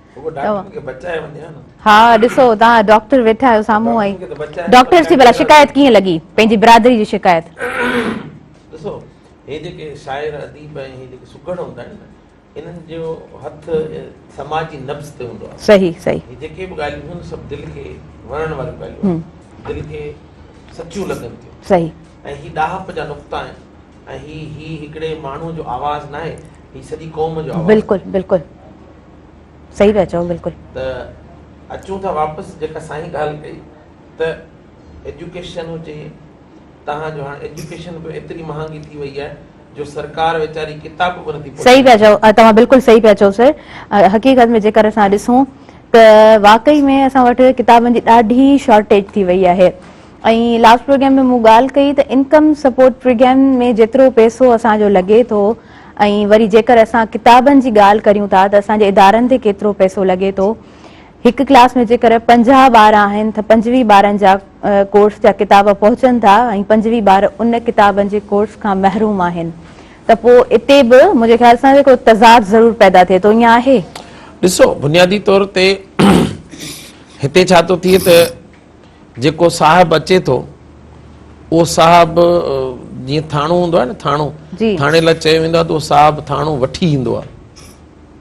ها ڏسو توهان ڊاڪٽر ويٺا آهيو سامهون ۽ ڊاڪٽر سي بلا شڪايت ڪيئن لڳي پنهنجي برادري جي شڪايت ڏسو هي جيڪي شاعر اديب ۽ هي جيڪي سگهڙ هوندا آهن نه انهن جو هٿ سماجي نبض تي هوندو آهي صحيح صحيح هي جيڪي به ڳالهيون ٿيون سڀ دل کي وڻڻ واريون ڳالهيون آهن دل کي سچيون لڳن ٿيون صحيح ۽ هي ڏاهپ جا نقطا آهن ۽ هي هي هڪڙي ماڻهو جو آواز ناهي هي سڄي قوم جو آواز بلڪل بلڪل صحيح پيا چئو بلڪل ته اچون ٿا واپس جيڪا سائين ڳالهه ڪئي ته ايجوڪيشن هجي توهان جو هاڻ ايجوڪيشن به ايتري مهانگي ٿي وئي آهي جو سرڪار ويچاري ڪتاب به نٿي پهچائي سهي پيا چئو توهان بلڪل سهي پيا چئو سر حقيقت ۾ جيڪر اسان ڏسون ته واقعي ۾ اسان وٽ ڪتابن جي ڏاڍي شارٽيج ٿي وئي آهي ۽ لاسٽ پروگرام ۾ مون ڳالهه ڪئي ته انڪم سپورٽ پروگرام ۾ جيترو پئسو اسان جو لڳي ٿو ۽ وري جيڪر اسان ڪتابن جي ڳالهه ڪريون ٿا ته اسان جي ادارن تي ڪيترو پئسو لڳي ٿو هڪ ڪلاس ۾ جيڪر پنجاهه ٻار آهن تھ پنجويهه ٻارن جا ڪورس جا ڪتاب پهچن ٿا ۽ پنجويهه ٻار ان ڪتابن جي ڪورس کان محروم آهن تھ پوء اتي بھ منھنجي خيال سان ڪو تضاد ضرور پيدا ٿئي ٿو. ائين آهي؟ ڏسو، بنيادي طور تي هتي ڇا ٿو ٿئي تھ جيڪو صاحب اچي ٿو، اهو صاحب جيئن ٿاڻو هوندو آهي نھ ٿاڻو، ٿاڻي لاء چيو ويندو آهي تھ اهو صاحب ٿاڻو وٺي ايندو آهي.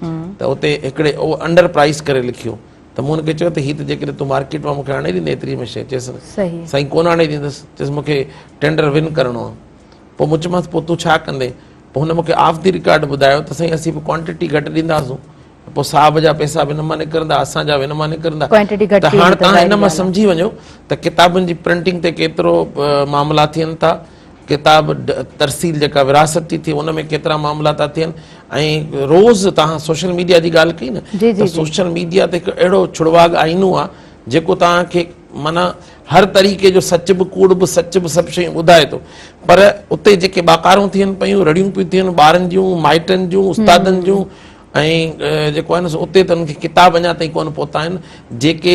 ته اتي هڪڙي انڊر پرائيس ڪري لکيو ته مون هن کي چيو ته هي ته جيڪڏهن تون مارڪيٽ مان مون کي آڻي ڏيندين ايتري ۾ شيء چيس سائين ڪونه آڻي ڏيندس چيس مون کي ٽينڊر ون ڪرڻو آهي پوء مون چيمانس پوء تون ڇا ڪندين پوء هن مون کي آف دي رڪارڊ ٻڌايو ته سائين اسين به ڪوانٽيٽي گهٽ ڏينداسون پوء صاحب جا پئسا به هن مان نڪرندا اسان جا به هن مان نڪرندا ته هاڻ تان هن مان سمجهي وڃو ته ڪتابن جي پرنٽنگ تي ڪيترو معاملا ٿين ٿا ڪتاب ترسيل جيڪا ورهاست ٿي ٿئي ان ۾ ڪيترا معاملا ٿا ٿين ۽ روز توهان سوشل ميڊيا جي ڳالهه ڪئي نه سوشل ميڊيا تي هڪ اهڙو ڇڙواڳ آئينو آ جيڪو توهان کي معنيٰ هر طريقي جو سچ به ڪوڙ به سچ به سڀ شيون ٻڌائي ٿو پر اتي جيڪي ٻاڪارون ٿين پيون رڙيون پيون ٿين ٻارن جون مائٽن جون استادن جون ۽ جيڪو آهي نه سو اتي ته انهن کي ڪتاب اڃا تائين ڪونه پهتا آهن جيڪي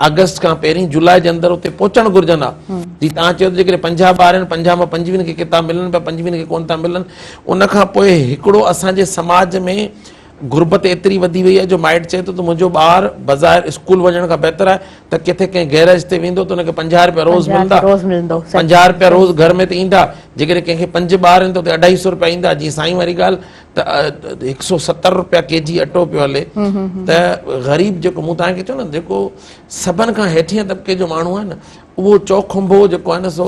آگسٽ کان پهرين جولاء جي اندر اتي پهچڻ گهرجن ها جي توهان چيو ته جيڪڏهن پنجاهه ٻار آهن پنجاهه مان پنجويهن کي ڪتاب ملن پيا پنجويهن کي ڪونه ٿا ملن ان کان پوء هڪڙو اسان جي سماج ۾ غربت ايتري وڌي وئي آهي جو مائٽ چئي ٿو ته منهنجو ٻار بظاهر اسڪول وڃڻ کان بهتر آهي ته ڪٿي ڪنهن گيريج تي ويندو ته ان کي پنجاهه رپيا روز ملندا پنجاهه رپيا روز گهر ۾ ته ايندا جيڪڏهن ڪنهن کي پنج ٻار آهن ته اتي اڍائي سو رپيا ايندا جي سائين واري ڳالهه ته هڪ سئو ستر رپيا ڪي جي اٽو پيو هلي ته غريب جيڪو مون توهان کي چيو نه جيڪو سڀن کان هيٺين طبقي جو ماڻهو آهي نه اهو چوکنڀو جيڪو آهي نه سو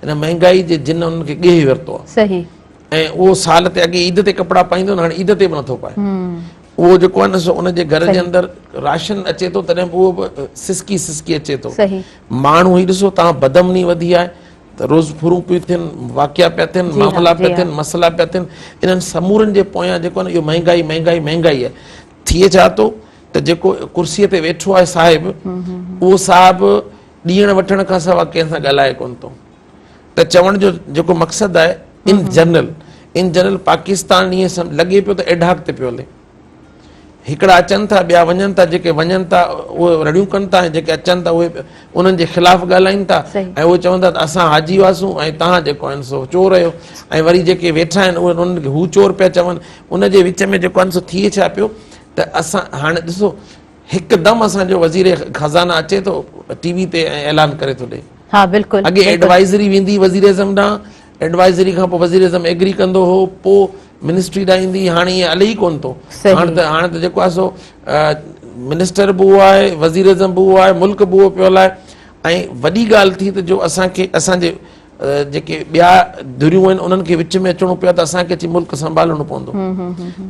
هن مهنگائي جي جن انهن کي ڳيهي ورتو آهي صحيح ۽ اهو سال تي اڳي عيد تي ڪپڙا پائيندو هاڻي عيد تي به نٿو پائي اهو جيڪو آهي نه سو ان جي گهر جي اندر راشن اچي ٿو تڏهن به اهو به سسڪي سسڪي اچي ٿو ماڻهو هي ڏسو تان بدمني وڌي آهي ته روز ڦرون پيون ٿين، واقعا پيا ٿين، معاملا پيا ٿين، مسئلا پيا ٿين، انهن سمورن جي پويان جيڪو آهي نه اهو مهنگائي مهنگائي مهنگائي آهي. ٿئي ڇا ٿو ته جيڪو ڪرسيء تي ويٺو آهي صاحب، اهو صاحب ڏيڻ وٺڻ کان سواء ڪنهن سان ڳالهائي ڪونه ٿو. ته چوڻ جو جيڪو مقصد آهي ان جنرل ان جنرل پاڪستان ائين لڳي پيو ته ايڊهاڪ تي پيو هلي. هڪڙا اچن ٿا ٻيا وڃن ٿا جيڪي وڃن ٿا اهي رڙيون ڪن ٿا ۽ جيڪي اچن ٿا اهي انهن جي خلاف ڳالهائين ٿا ۽ اهي چون ٿا ته اسان حاجي هئاسون ۽ توهان جيڪو آهن سو چور آهيو ۽ وري جيڪي ويٺا آهن اهي انهن کي هو چور پيا چون ان جي وچ ۾ جيڪو آهن سو ٿئي ڇا پيو ته اسان هاڻي ڏسو هڪدم اسانجو وزير خزانه اچي ٿو ٽي وي تي ۽ اعلان ڪري ٿو ڏئي اڳي ايڊوائزري ويندي وزيراعظم ڏانهن ايڊوائزري کان پوء وزيراعظم ايگري ڪندو هو پوء منسٽري ڏانهن ايندي هئي هاڻي ائين علي ئي ڪونه ٿو هاڻ ته هاڻ ته جيڪو آهي سو منسٽر به اهو آهي وزيراعظم به اهو آهي ملڪ به اهو پيو هلائي ۽ وڏي ڳالهه ٿي ته جو اسان کي اسان جي جيڪي ٻيا ڌريون آهن انهن کي وچ ۾ اچڻو پيو ته اسان کي اچي ملڪ سنڀالڻو پوندو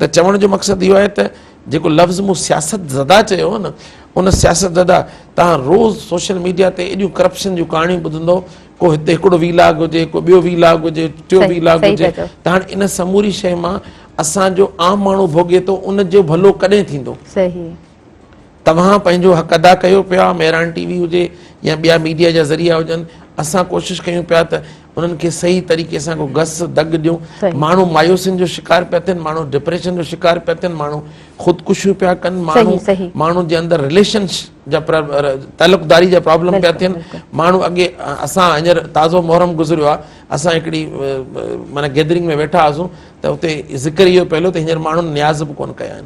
ته چوڻ جو مقصد اهو آهي ته جيڪو لفظ مون سياست زده چيو نه ان سياست زده تان روز سوشل ميڊيا تي ايڏيون ڪرپشن جون ڪهاڻيون ٻڌندو ڪو هتي هڪڙو وي لاگ هجي ڪو ٻيو وي لاگ هجي ٽيو وي لاگ هجي ته هاڻي ان سموري شيء مان اسان جو عام ماڻهو ڀوڳي ٿو ان جو ڀلو ڪڏهن ٿيندو توهان پنهنجو حق ادا ڪيو پيا مهراڻ ٽي وي هجي يا ٻيا ميڊيا جا ذريعا هجن اسان ڪوشش ڪيون پيا ته انهن کي صحيح طريقي سان ڪو گس دڳ ڏيون ماڻهو مايوسين جو شڪار پيا ٿين ماڻهو ڊپريشن جو شڪار پيا ٿين ماڻهو خودڪشيون پيا ڪن ماڻهو ماڻهو جي اندر رليشن جا تعلقداري جا پرابلم پيا ٿين ماڻهو اڳي اسان هينئر تازو محرم گذريو آهي اسان هڪڙي معنيٰ گيدرنگ ۾ ويٺا هئاسون ته اتي ذڪر اهو پيو هليو ته هينئر ماڻهن نياز به ڪونه ڪيا آهن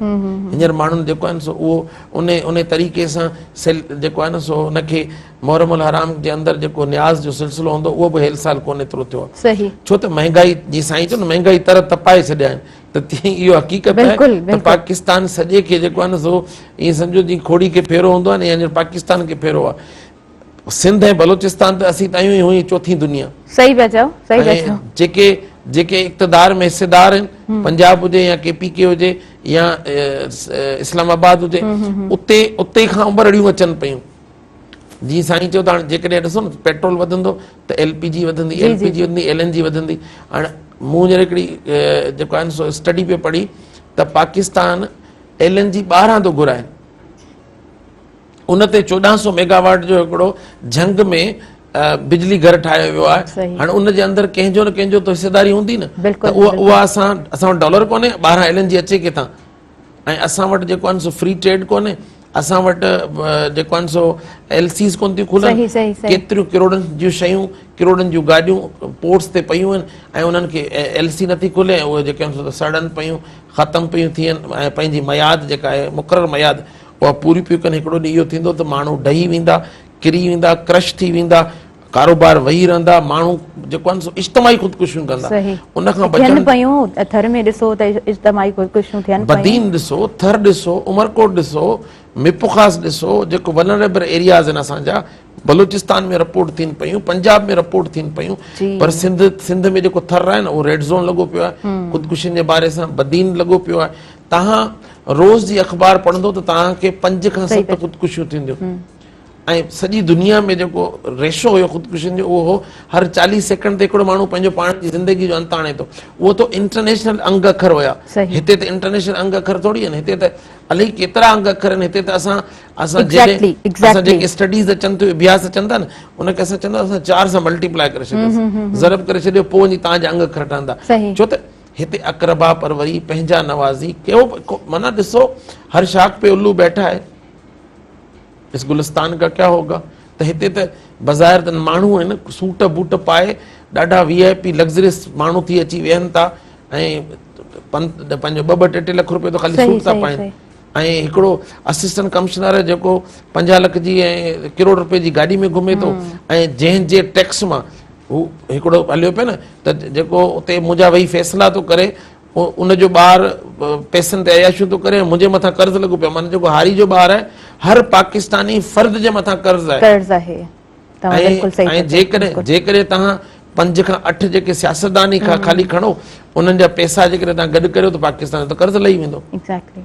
هينئر ماڻهن جيڪو آهن سو اهو ان ان طريقي سان سيل جيڪو آهي نه سو ان کي محرم الحرام جي اندر جيڪو نياز جو سلسلو هوندو اهو به هيل سال ڪونه ايترو ٿيو آهي صحيح ڇو ته مهنگائي جي سائين چيو نه مهنگائي تر تپائي ڇڏيا آهن ته تيئن اهو حقيقت آهي ته پاڪستان سڄي کي جيڪو آهي نه سو ائين سمجهو جيئن کهوڙي کي ڦيرو هوندو آهي نه ائين پاڪستان کي ڦيرو آهي سنڌ ۽ بلوچستان ته اسين تايون ئي هون ائين چوٿين دنيا صحيح پيا چئو صحيح پيا چئو جيڪي جيڪي اقتدار ۾ حصيدار آهن پنجاب هجي يا ڪي پي ڪي هجي يا اسلام آباد هجي اتي اتي کان امبرڙيون اچن پيون جي سائين چيو ته هاڻي جيڪڏهن ڏسو نه پيٽرول وڌندو ته ايل پي جي وڌندي ايل پي جي وڌندي ايل اين جي وڌندي هاڻي مون هينئر هڪڙي جيڪو آهي سو اسٽڊي پيو پڙهي ته پاڪستان ايل اين جي ٻاهران ٿو گهرائي ان تي چوڏهن سو ميگاواٽ جو هڪڙو جهنگ ۾ بجلي گهر ٺاهيو ويو آهي هاڻي ان جي اندر ڪنهن جو نه ڪنهن جو ته حصيداري هوندي نه اها اسان اسان وٽ ڊالر ڪونهي ٻاهران ايل اين جي اچي ڪٿان ۽ اسان وٽ جيڪو آهن سو فري ٽريڊ ڪونهي اسان وٽ جيڪو آهن سو ايل سيز ڪون ٿيون کلن ڪيتريون ڪروڙن جون شيون ڪروڙن جون گاڏيون پورٽس تي پيون آهن ۽ انهن کي ايل سي نٿي کلي ۽ اهي جيڪي آهن سو سڙن پيون ختم پيون ٿين ۽ پنهنجي مياد جيڪا آهي مقرر مياد اها پوري پيون ڪن هڪڙو ڏينهن اهو ٿيندو ته ماڻهو ڊهي ويندا ڪري ويندا ڪرش ٿي ويندا ڪاروبار وهي رهندا ماڻهو جيڪو آهن سو اجتماعي خودڪشيون ڪندا ان کان بچڻ ٿين پيون ٿر ۾ ڏسو ته اجتماعي خودڪشيون ٿين پيون بدين ڏسو ٿر ڏسو عمرڪوٽ ڏسو ميپخاص ڏسو جيڪو ونريبر ايرياز آهن اسان جا بلوچستان ۾ رپورٽ ٿين پيون پنجاب ۾ رپورٽ ٿين پيون پر سنڌ سنڌ ۾ جيڪو ٿر آهي نه اهو ريڊ زون لڳو پيو آهي خودڪشين جي باري سان بدين لڳو پيو آهي تهان روز جي اخبار پڙهندو ته تهان کي پنج کان ست خودڪشيون ٿينديون ۽ سڄي دنيا ۾ جيڪو ريشو هيو خودڪشين جو اهو هو هر چاليهه سيڪنڊ تي هڪڙو ماڻهو پنهنجو پاڻ جي زندگي جو انت آڻي ٿو اهو تو انٽرنيشنل انگ اکر هيا هتي ته انٽرنيشنل انگ اکر ٿوري آهن هتي ته الائي ڪيترا انگ اکر آهن هتي ته اسان اسان اسان جيڪي اسٽڊيز اچن ٿيون اڀياس اچن ٿا نه ان کي اسان چوندا اسان چار سان ملٽيپلائي ڪري ڇڏيوسي ضرب ڪري ڇڏيو پوء وڃي تانجا انگ اکر ٺهندا ڇو ته هتي اقربا پروري پنهنجا نوازي ڪيو معنيٰ ڏسو هر شاخ پي الو بيٺا آهي اس گلستان ڪا ڪيا هوگا ته هتي ته بظاهر ته ماڻهو آهن سوٽ بوٽ پائي ڏاڍا وي آء پي لگزريس ماڻهو ٿي اچي ويهن ٿا ۽ پنهنجو ٻه ٻه ٽي ٽي لک روپيو ته خالي سوٽ ٿا پائن ۽ هڪڙو اسسٽنٽ ڪمشنر جيڪو پنجاهه لک جي ۽ ڪروڙ روپئي جي گاڏي ۾ گهمي ٿو ۽ جنهن جي ٽيڪس مان هو هڪڙو هليو پيو نه ته جيڪو اتي منهنجا ويهي فيصلا ٿو ڪري ان جو ٻار پئسن تي عياشيون ٿو ڪري ۽ منهنجي مٿان قرض لڳو پيو آهي. معنيٰ جيڪو هاري جو ٻار آهي، هر پاڪستاني فرد جي مٿان قرض آهي. ۽ جيڪڏهن توهان پنج کان اٺ جيڪي سياستدان ئي خالي کڻو، انهن جا پئسا جيڪڏهن توهان گڏ ڪريو ته پاڪستان جو ته قرض لهي ويندو.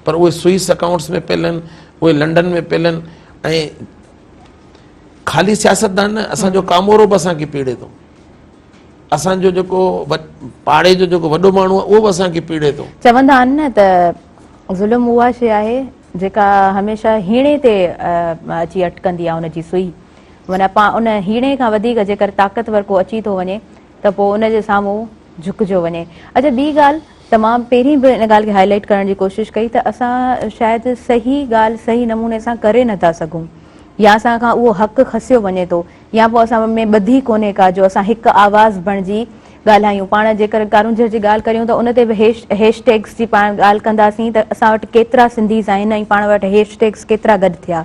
پر اهي سوئس اڪائونٽس ۾ پيل آهن، اهي لنڊن ۾ پيل آهن ۽ خالي سياستدان نه، اسان جو ڪامورو به اسان کي پيڙي ٿو. اسان جو جيڪو پاڙي جو جيڪو وڏو ماڻهو آهي اهو به اسان کي پيڙي ٿو. چوندا آهن نه ته ظلم اها شيء آهي جيڪا هميشه هيڻي تي اچي اٽڪندي آهي ان جي سوئي معنيٰ ان هيڻي کان وڌيڪ جيڪر طاقتور ڪو اچي ٿو وڃي ته پوء ان جي سامهون جهڪجو وڃي. اچا ٻي ڳالهه ته مان پهرين به ان ڳالهه کي هائي لائيٽ ڪرڻ جي ڪوشش ڪئي ته اسان شايد صحيح ڳالهه صحيح نموني سان ڪري نٿا سگهون يا اسان کان اهو حق کسيو وڃي ٿو. يا پوء اسان ۾ ٻڌي ڪونهي ڪا جو اسان هڪ آواز بڻجي ڳالهايون. پاڻ جيڪر ڪارونجهر جي ڳالهه ڪريون ته ان تي به هيش ٽيگس جي پاڻ ڳالهه ڪنداسين ته اسان وٽ ڪيترا سنڌيز آهن ۽ پاڻ وٽ هيش ٽيگس ڪيترا گڏ ٿيا.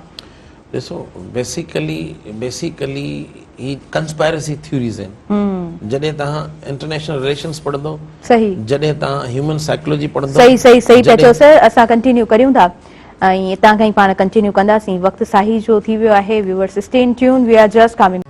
ڏسو بيسيڪلي بيسيڪلي هي ڪنسپائرسي ٿيوريز آهن. جڏهن توهان انٽرنيشنل رليشنس پڙهندو. صحيح. جڏهن توهان هيومن سائيڪولوجي پڙهندو. صحيح صحيح صحيح پيا چئو سر اسان ڪنٽينيو ڪريون ٿا. ۽ اتان کان ئي پاڻ ڪنٽينيو ڪنداسين وقت ساهي جو ٿي ويو آهي viewers stay in tune we are just coming.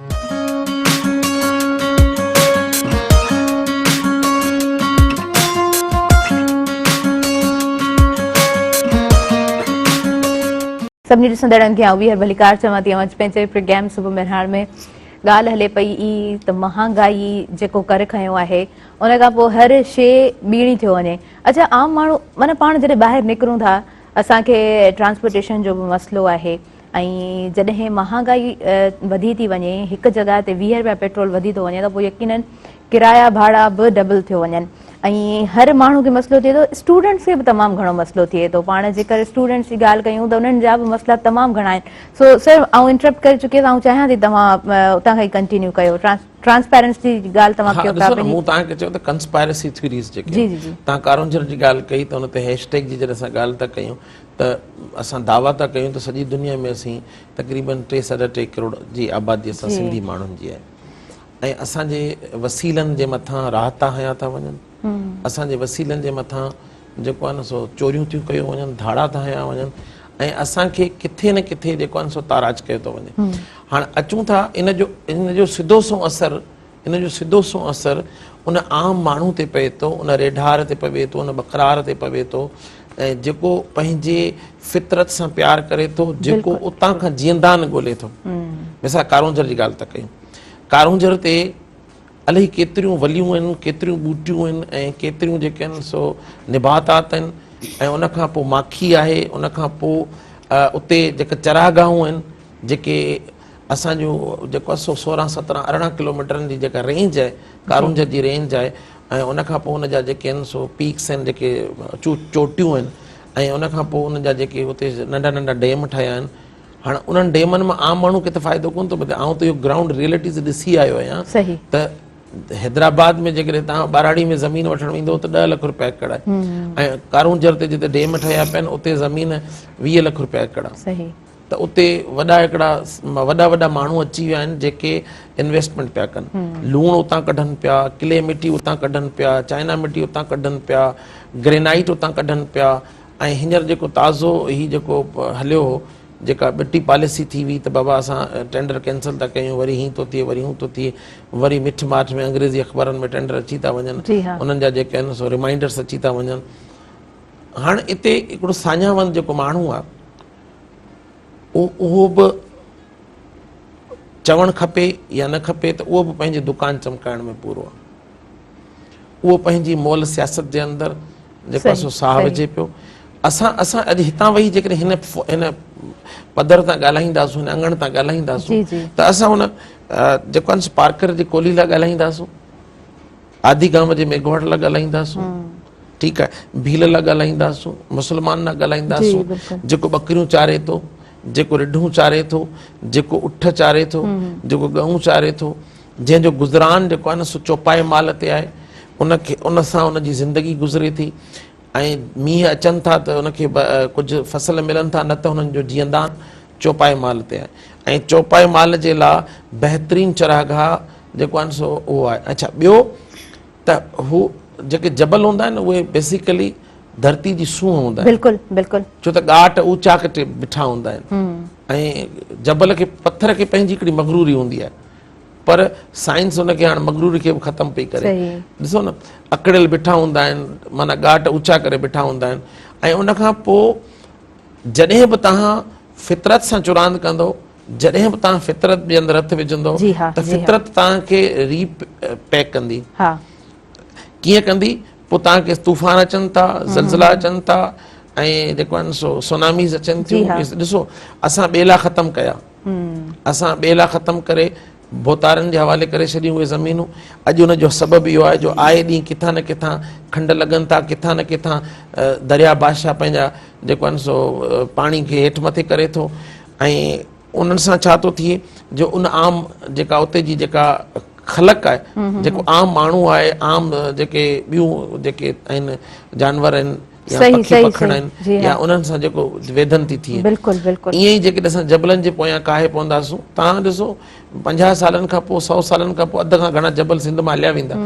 سڀني ڏسندڙن کي آئون ويهر ڀليڪار چوان ٿي اوهان جي پنهنجي پروگرام صبح مهراڻ ۾ ڳالهه هلي پئي ئي ته مهانگائي جيڪو ڪر کنيو آهي ان کان پوء هر شي ٻيڻي ٿيو وڃي اچا عام ماڻهو معنيٰ پاڻ جڏهن ٻاهر نڪرون ٿا اسان کي ٽرانسپورٽيشن جو به مسئلو آهي ۽ جڏهن مهانگائي وڌي ٿي وڃي هڪ جڳهه تي ويهه رپيا پيٽرول وڌي ٿو وڃي ته پوء يقيناً ڪرايا ڀاڙا به ڊبل ٿيو وڃن ۽ هر ماڻهو کي مسئلو ٿئي ٿو اسٽوڊنٽس کي به تمام گهڻو مسئلو ٿئي ٿو پاڻ جيڪر اسٽوڊنٽس جي ڳالهه ڪيون ته انهن جا به مسئلا تمام گهڻا آهن سو سر آئون انٽرپٽ ڪري چڪيس آئون چاهيان ٿي توهان اتان کان ئي ڪنٽينيو ڪيو ٽرانسپيرنسي جي ڳالهه توهان ڪيو ٿا ڏسو نه مون توهان کي چيو ته ڪنسپيرسي ٿيوريز جيڪي آهن توهان ڪارونجهر جي ڳالهه ڪئي ته ان تي هيش ٽيگ جي جڏهن اسان ڳالهه ٿا ڪيون ته اسان دعويٰ ٿا ڪيون ته سڄي دنيا ۾ اسين تقريبن ٽي ساڍا ٽي ڪروڙ جي آبادي اسان سنڌي ماڻهن جي آهي ۽ اسان جي وسيلن جي مٿان راحتا هنيا ٿا وڃن اسان جي وسيلن جي مٿان جيڪو آهي نه سو چوريون ٿيون ڪيون وڃن ڌاڙا ڌانيا وڃن ۽ اسان کي ڪٿي نه ڪٿي جيڪو آهي نه سو تاراج ڪيو ٿو وڃي هاڻ اچون ٿا ان جو ان جو سڌو سنئون اثر ان جو سڌو سنئون اثر ان عام ماڻهو تي پئي ٿو ان ريڍار تي پوي ٿو ان ٻڪرار تي پوي ٿو ۽ جيڪو پنهنجي فطرت سان پيار ڪري ٿو جيڪو اتان کان جيئندان ڳولي ٿو مثال ڪارونجهر جي ڳالهه ٿا ڪيون ڪارونجهر تي الائي ڪيتريون وليون آهن، ڪيتريون ٻوٽيون آهن ۽ ڪيتريون جيڪي آهن سو نباتات آهن ۽ ان کان پوء ماکي آهي، ان کان پوء اتي جيڪي چراگاهون آهن جيڪي اسان جو جيڪو آهي سو سورهن سترهن ارڙهن ڪلوميٽرن جي جيڪا رينج آهي ڪارونجهر جي رينج آهي ۽ ان کان پوء ان جا جيڪي آهن سو پيڪس آهن جيڪي چوٽيون آهن ۽ ان کان پوء ان جا جيڪي اتي ننڍا ننڍا ڊيم ٺهيا آهن هاڻ انهن ڊيمن مان عام ماڻهو کي ته فائدو ڪونه ٿو ملي آئون ته اهو گرائونڊ ريئلٽيز ڏسي آيو آهيان ته حيدرآباد ۾ جيڪڏهن تهان ٻاراڙي ۾ زمين وٺڻ ويندو ته ڏهه لک روپيا ايڪڙ آهي ۽ ڪارونجهر تي جتي ڊيم ٺهيا پيا آهن اتي زمين ويهه لک روپيا ايڪڙ آهي ته اتي وڏا هڪڙا وڏا وڏا ماڻهو اچي ويا آهن جيڪي انويسٽمنٽ پيا ڪن لوڻ اتان ڪڍن پيا ڪلي مٽي اتان ڪڍن پيا چائنا مٽي اتان ڪڍن پيا گرينائيٽ اتان ڪڍن پيا ۽ هينئر جيڪو تازو هي جيڪو هليو هو جيڪا ٻٽي پاليسي ٿي وئي ته بابا اسان ٽينڊر ڪينسل ٿا ڪيون وري هين ٿو ٿئي وري هون ٿو ٿئي وري مٺ ماٺ ۾ انگريزي اخبارن ۾ ٽينڊر اچي ٿا وڃن انهن جا جيڪي آهن سو ريمائنڊرس اچي ٿا وڃن هاڻ اتي هڪڙو ساڃاوند جيڪو ماڻهو آهي اهو به چوڻ کپي يا نه کپي ته اهو به پنهنجي دڪان چمڪائڻ ۾ پورو آهي اهو پنهنجي مئل سياست جي اندر جيڪو آهي سو ساهه وجهي پيو. اسان اسان اڄ هتان ويهي جيڪڏهن هن هن پڌر تان ڳالهائينداسون، هن اڱڻ تان ڳالهائينداسون ته اسان هن جيڪو آهي سو پارڪر جي ڪولهي لاء ڳالهائينداسون، آدي گام جي ميگهواڙ لاء ڳالهائينداسون، ٺيڪ آهي، ڀيل لاء ڳالهائينداسون، مسلمان لاء ڳالهائينداسون، جيڪو ٻڪريون چاري ٿو، جيڪو رڍون چاري ٿو، جيڪو اٺ چاري ٿو، جيڪو ڳئون چاري ٿو، جنهن جو گذران جيڪو آهي نه سو چوپائي مال تي آهي ان کي ان سان ان جي زندگي گذري ٿي ۽ مينهن اچن ٿا ته ان کي ڪجهه فصل ملن ٿا نه ته هنن جو جيئندان چوپائي مال تي آهي ۽ چوپائي مال جي لاء بهترين چراگاهه جيڪو آهن سو اهو آهي اچھا ٻيو ته هو جيڪي جبل هوندا آهن اهي بيسيڪلي ڌرتي جي سونهن هوندا آهن بلڪل بلڪل ڇو ته ڳاٽ اوچا ڪٽي بيٺا هوندا آهن ۽ جبل کي پٿر کي پنهنجي هڪڙي مغروري هوندي آهي پر سائنس ان کي هاڻ مغروري کي به ختم پئي ڪري ڏسو نه اڪڙيل بيٺا هوندا آهن معنيٰ ڳاٽ اوچا ڪري بيٺا هوندا آهن ۽ ان کان پوء جڏهن به توهان فطرت سان چراند ڪندو جڏهن به توهان فطرت جي اندر هٿ وجهندو ته فطرت توهان کي ري پيڪ ڪندي ڪيئن ڪندي پوء توهان کي طوفان اچن ٿا زلزلا اچن ٿا ۽ جيڪو آهن سو سوناميز اچن ٿيون ڏسو اسان ٻيلا ختم ڪيا اسان ٻيلا ختم ڪري ڀوتارن جي حوالي ڪري ڇڏيون اهي زمينون اڄ ان جو سبب اهو آهي جو آئي ڏينهن ڪٿان نه ڪٿان کنڊ لڳن ٿا ڪٿان نه ڪٿان درياء بادشاهه پنهنجا جيڪو آهن سو پاڻي کي هيٺ مٿي ڪري ٿو ۽ انهن سان ڇا ٿو ٿئي جو ان عام جيڪا اتي جي جيڪا خلق آهي جيڪو عام ماڻهو آهي عام جيڪي ٻيون جيڪي آهن جانور آهن يا پکي پکڻ آهن يا انهن سان جيڪو ويڌن ٿي ٿئي ائين ئي جيڪڏهن اسان جبلن جي پويان ڪاهي پونداسون تان ڏسو پنجاهه سالن کان پوء سؤ سالن کان پوء اڌ کان گهڻا جبل سنڌ مان هليا ويندا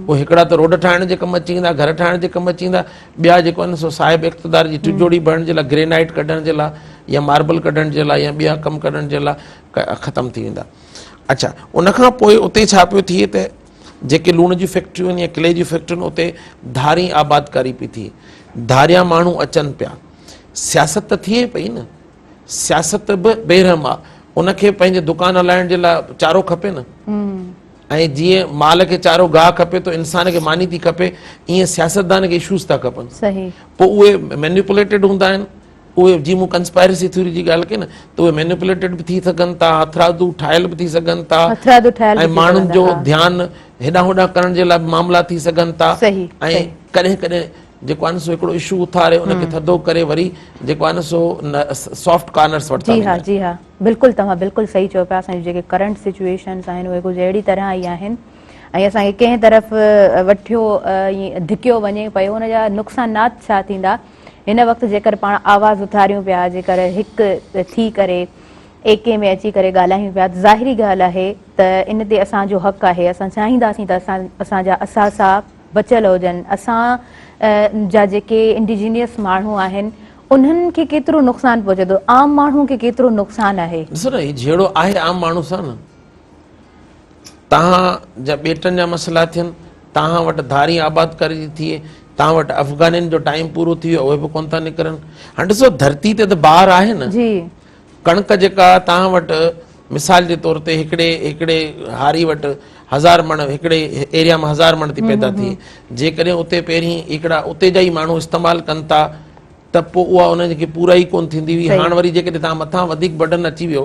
پوء هڪڙا ته روڊ ٺاهڻ جي ڪم اچي ويندا گهر ٺاهڻ جي ڪم اچي ويندا ٻيا جيڪو آهن سو صاحب اقتدار جي ٽجوڙي ڀرڻ جي لاء گرينائيٽ ڪڍڻ جي لاء يا ماربل ڪڍڻ جي لاء يا ٻيا ڪم ڪڍڻ جي لاء ختم ٿي ويندا اڇا ان کان پوء اتي ڇا پيو ٿئي ته جيڪي لوڻ جون فيڪٽريون آهن يا ڪلي جون فيڪٽريون اتي ڌارين آبادڪاري پئي ٿئي ڌاريان ماڻهو اچن پيا سياست ته ٿئي پئي نه سياست به بيرحم آ ان کي پنهنجي دڪان هلائڻ جي لاء چارو کپي نه ۽ جيئن مال کي چارو گاهه کپي تو انسان کي ماني ٿي کپي ائين سياستدان کي شوز ٿا کپن پوء اهي مينيپوليٽيڊ هوندا آهن اهي جي مون ڪنسپائرسي ٿيوري جي ڳالهه ڪئي نه ته اهي مينيپوليٽيڊ به ٿي سگهن ٿا هٿرادو ٺاهيل به ٿي سگهن ٿا ۽ ماڻهن جو ڌيان هيڏانهن هوڏانهن ڪرڻ جي لاء به معاملا ٿي سگهن ٿا ۽ ڪڏهن ڪڏهن جيڪو آهي نه سو هڪڙو اشو اٿاري ان کي ٿڌو ڪري وري جيڪو آهي نه سو سافٽ ڪارنرس ورتا جي ها جي ها بلڪل توهان بلڪل صحيح چيو پيا اسان جون جيڪي ڪرنٽ سچويشنس آهن اهي ڪجهه اهڙي طرح ئي آهن ۽ اسان کي ڪنهن طرف وٺيو ڌڪيو وڃي پيو ان جا نقصانات ڇا ٿيندا هن وقت جيڪر پاڻ آواز اٿاريون پيا، جيڪر هڪ ٿي ڪري ايڪي ۾ اچي ڪري ڳالهايون پيا ته ظاهري ڳالهه آهي ته ان تي اسان جو حق آهي، اسان چاهينداسين ته اسان جا اثاثا بچيل هجن، اسان جا جيڪي انڊيجينئس ماڻهو آهن انهن کي ڪيترو نقصان پهچي ٿو، عام ماڻهو کي ڪيترو نقصان آهي. ڏسو نه هي جهيڙو آهي عام ماڻهو سان نه تهان جا ٻيٽن جا مسئلا ٿين، تهان وٽ ڌارين آبادڪاري جي ٿئي، تهان وٽ افغانين جو ٽائيم پورو ٿي ويو اهي به ڪونه ٿا نڪرن. هاڻ ڏسو ڌرتي تي ته بار آهي نه. ڪڻڪ جيڪا تهان وٽ مثال جي طور تي هڪڙي هڪڙي هاري وٽ هزار مڻ هڪڙي ايريا مان هزار مڻ ٿي پيدا ٿئي جيڪڏهن اتي پهرين هڪڙا اتي جا ئي ماڻهو استعمال ڪن ٿا ته پوء اها انهن کي پورائي ڪونه ٿيندي هئي هاڻ وري جيڪڏهن تهان مٿان وڌيڪ برڊن اچي ويو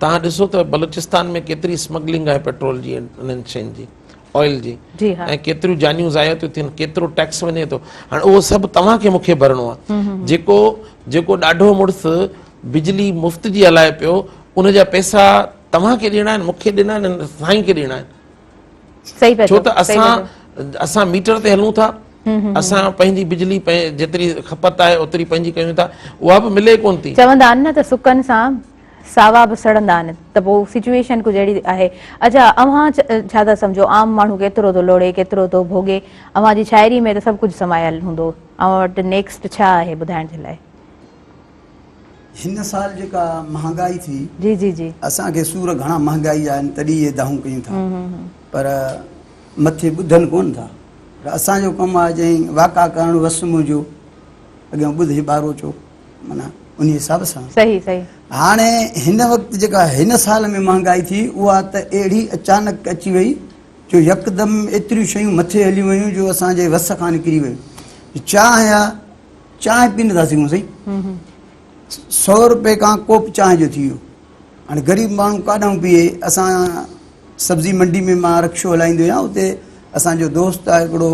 توهان ڏسو ته بلوچستان ۾ ڪيتري اسمگلنگ آهي پيٽرول جي انهن شين جي آئل جي ۽ ڪيتريون جانيون ضايع ٿيون ٿين ڪيترو ٽيڪس وڃي ٿو هاڻي اهو سڀ توهان کي مونکي ڀرڻو آهي جيڪو جيڪو ڏاڍو مڙس بجلي مفت جي هلائي پيو ان جا پيسا توهان کي ڏيڻا آهن مونکي ڏنا آهن سائين کي ڏيڻا آهن ڇو ته اسان اسان ميٽر تي هلون ٿا اسان پنهنجي بجلي جيتري کپت آهي اوتري پنهنجي ڪيون ٿا اها به ملي ڪون ٿي چوندا آهن نه ته سڪن سان ساوا به سڙندا آهن ته پوء سچويشن ڪجهه اهڙي آهي اچا اوهان ڇا ٿا سمجهو عام ماڻهو ڪيترو ٿو لوڙي ڪيترو ٿو ڀوڳي اوهان جي شاعري ۾ ته سڀ ڪجهه سمايل هوندو اوهان وٽ نيڪسٽ ڇا آهي ٻڌائڻ جي لاء هن سال جيڪا مهانگائي ٿي جي جي جي اسان کي سور گهڻا مهانگائي جا آهن تڏهن اهي دانهون ڪيون ٿا پر مٿي ٻڌن ڪون ٿا پر اسان جو ڪم آهي جئين واقع ڪرڻ وس منهنجو اڳيان ٻڌ هي ٻارو چو مانا ان حساب سان صحيح صحيح هاڻي هن وقت جيڪا هن سال ۾ مهانگائي ٿي اها ته اهڙي اچانڪ اچي وئي جو يڪدم ايتريون شيون مٿي هليون ويون جو اسان جي وس کان نڪري ويون چانهه آهي چانهه پيئن ٿا سگهون سائين سؤ روپئي کان ڪوپ چانهه جو ٿي ويو هاڻي غريب ماڻهو ڪاڏانهن پيئي اسان سبزي منڊي ۾ مان رڪشو هلائيندو آهيان اتي اسانجو دوست آهي هڪڙو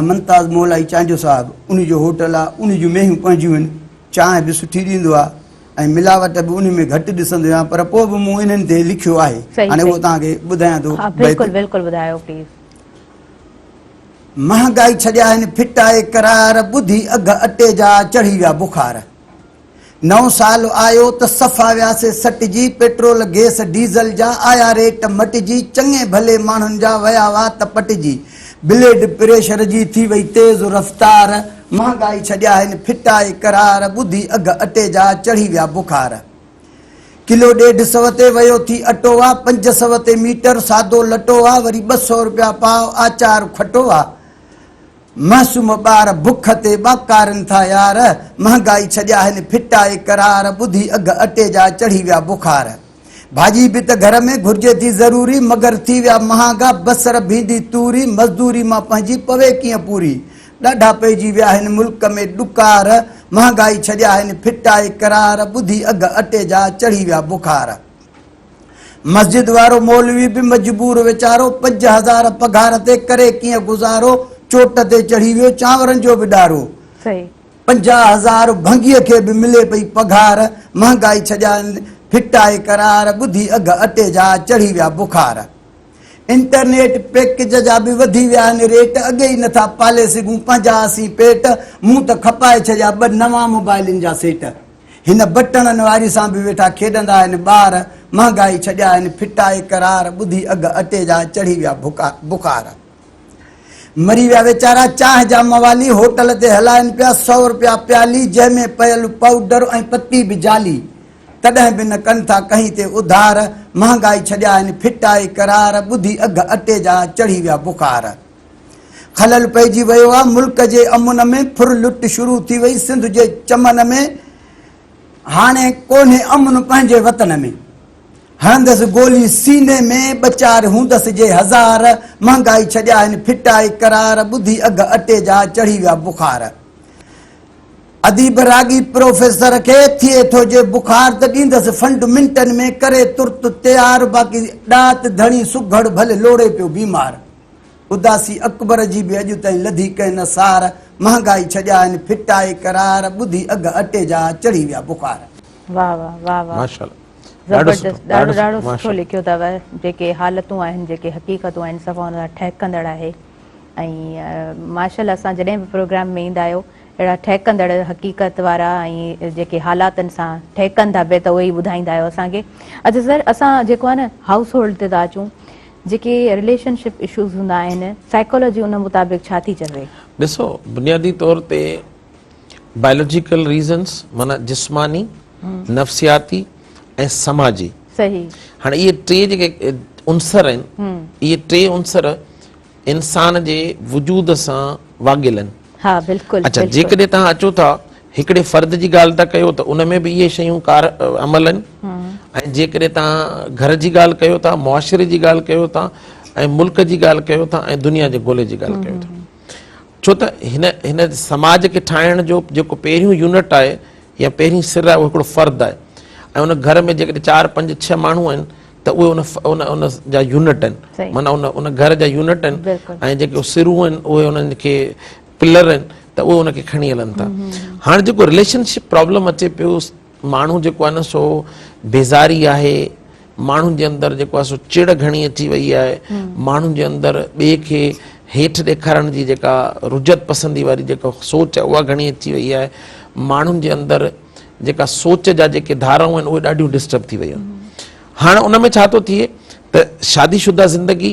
منتاز مولائي چانجو صاحب ان جو هوٽل آهي ان جون مينهيون پنهنجيون آهن چانهه به سٺي ڏيندو آهي ۽ ملاوٽ به ان ۾ گهٽ ڏسندو آهيان پر پوء به مون انهن تي لکيو آهي هاڻي اهو توهان کي ٻڌايان ٿو بلڪل بلڪل ٻڌايو پليز مهانگائي ڇڏيائين ڦٽائي قرار ٻڌي اگهه اٽي جا چڙهي ويا بخار نئون سال آيو ته صفا وياسي سٽجي پيٽرول گيس ڊيزل جا آيا ريٽ مٽجي چڱي ڀلي ماڻهن جا ويا وات پٽجي بليڊ پريشر جي ٿي وئي تيز رفتار مهانگائي ڇڏيائين ڦٽائي قرار ٻڌي اگهه اٽي جا چڙهي ويا بخار. ڪلو ڏيڍ سو تي ويو ٿي اٽو آ پنج سو تي ميٽر سادو لٽو آ وري ٻه سو رپيا پاء آچار کٽو آ معصوم ٻار بک تي ٻاڪارين ٿا يار مهانگائي ڇڏيا هن ڦٽائي قرار ٻڌي اگهه اٽي جا چڙهي ويا بخار ڀاڄي به ته گهر ۾ گهرجي ٿي ضروري مگر ٿي ويا مهانگا بصر ڀينڊي توري مزدوري مان پنهنجي پوي ڪيئن پوري ڏاڍا پئجي ويا آهن ملڪ ۾ ڏڪار مهانگائي ڇڏيا آهن ڦٽائي قرار ٻڌي اگهه اٽي جا چڙهي ويا بخار مسجد وارو مولوي به مجبور ويچارو پنج هزار پگهار تي ڪري ڪيئن گذارو چوٽ تي چڙهي ويو چانورن جو به ڏارو صحيح پنجاهه هزار ڀنگي کي به ملي پئي پگهار مهانگائي ڇڏيا آهن ڦٽائي قرار ٻڌي اگهه اٽي جا چڙهي ويا بخار انٽرنيٽ پيڪج جا به وڌي ويا آهن ريٽ اڳي ئي نٿا پالي سگهون پنهنجا اسين پيٽ مون ته کپائي ڇڏيا ٻه نوان موبائلن جا سيٽ هن بٽڻن واري سان به ويٺا کيڏندا آهن ٻار مهانگائي ڇڏيا آهن ڦٽائي قرار ٻڌي اگهه اٽي جا چڙهي ويا بخار مري ويا ويچارا چانهه جا موالي هوٽل تي هلائن پيا سؤ رپيا پيالي جنهن ۾ پيل پائوڊر ۽ پتي به جالي تڏهن به نه ڪن ٿا ڪنهين تي اڌار مهانگائي ڇڏيائين ڦٽائي قرار ٻڌي اگهه اٽي جا چڙهي ويا بخار خلل پئجي ويو آ ملڪ جي امن ۾ ڦر لٽ شروع ٿي وئي سنڌ جي چمن ۾ هاڻي ڪونهي امن پنهنجي وطن ۾ هڻندس گولي سيني ۾ ٻچار هوندس جي هزار مهانگائي ڇڏيائين ڦٽائي قرار ٻڌي اگهه اٽي جا چڙهي ويا بخار. ادي براڳي پروفيسر کي ٿئي ٿو جي بخار ته ڏيندس فنڊ منٽن ۾ ڪري ترت تيار باقي ڏات ڌڻي سگهڙ ڀلي لوڙي پيو بيمار اداسي اڪبر جي به اڄ تائين لڌي ڪنهن نه سار مهانگائي ڇڄائين ڦٽائي قرار ٻڌي اگهه اٽي جا چڙهي ويا بخار. واھ واھ واھ واھ زبردست ڏاڍو ڏاڍو سٺو لکيو اٿو جيڪي حالتون آهن جيڪي حقيقتون آهن صفا ان سان ٺهڪندڙ آهي ۽ ماشاء الله اسان جڏهن به پروگرام ۾ ايندا آهيو اهڙا ٺهڪندڙ حقيقت وارا ۽ جيڪي حالاتن سان ٺهڪن ٿا پئي ته اهي ئي ٻڌائيندا آهيو اسان کي. اچ سر اسان جيڪو آهي نه هائوس هولڊ تي ٿا اچون. جيڪي رليشن شپ اشوز هوندا آهن سائيڪالاجي ان مطابق ڇا ٿي چوي؟ ڏسو بنيادي طور تي بائيولوجيڪل ريزنس معنيٰ جسماني، نفسياتي ۽ سماجي. صحيح. هاڻي اهي ٽي جيڪي عنصر آهن اهي ٽي عنصر. انسان جي وجود سان واڳيل آهن. ها بلڪل. اچا جيڪڏهن توهان اچو ٿا هڪڙي فرد جي ڳالهه ٿا ڪيو ته ان ۾ به اهي شيون ڪار عمل آهن ۽ جيڪڏهن توهان گهر جي ڳالهه ڪيو ٿا معاشري جي ڳالهه ڪيو ٿا ۽ ملڪ جي ڳالهه ڪيو ٿا ۽ دنيا جي گولي جي ڳالهه ڪيو ٿا ڇو ته هن هن سماج کي ٺاهڻ جو جيڪو پهريون يونٽ آهي يا پهرين سر آهي اهو هڪڙو فرد آهي ۽ ان گهر ۾ جيڪڏهن چار پنج ڇهه ماڻهو آهن ته اهي ان ان ان جا يونٽ آهن معنيٰ ان ان گهر جا يونٽ آهن ۽ جيڪي سرون آهن اهي انهن کي پلر آهن ته اهي ان کي کڻي هلن ٿا هاڻ جيڪو رليشن شپ پرابلم اچي پيو ماڻهو جيڪو آهي نه سو بيزاري آهي ماڻهن جي اندر جيڪو آهي سو چڙ گهڻي اچي وئي آهي ماڻهن جي اندر ٻئي کي هيٺ ڏيکارڻ جي جيڪا رجعت پسندي واري جيڪا سوچ آهي اها گهڻي اچي وئي آهي ماڻهن جي اندر جيڪا سوچ جا جيڪي ڌارائون آهن اهي ڏاڍيون ڊسٽرب ٿي ويون آهن هاڻ ان ۾ ڇا ٿو ٿئي ته شادي شده زندگي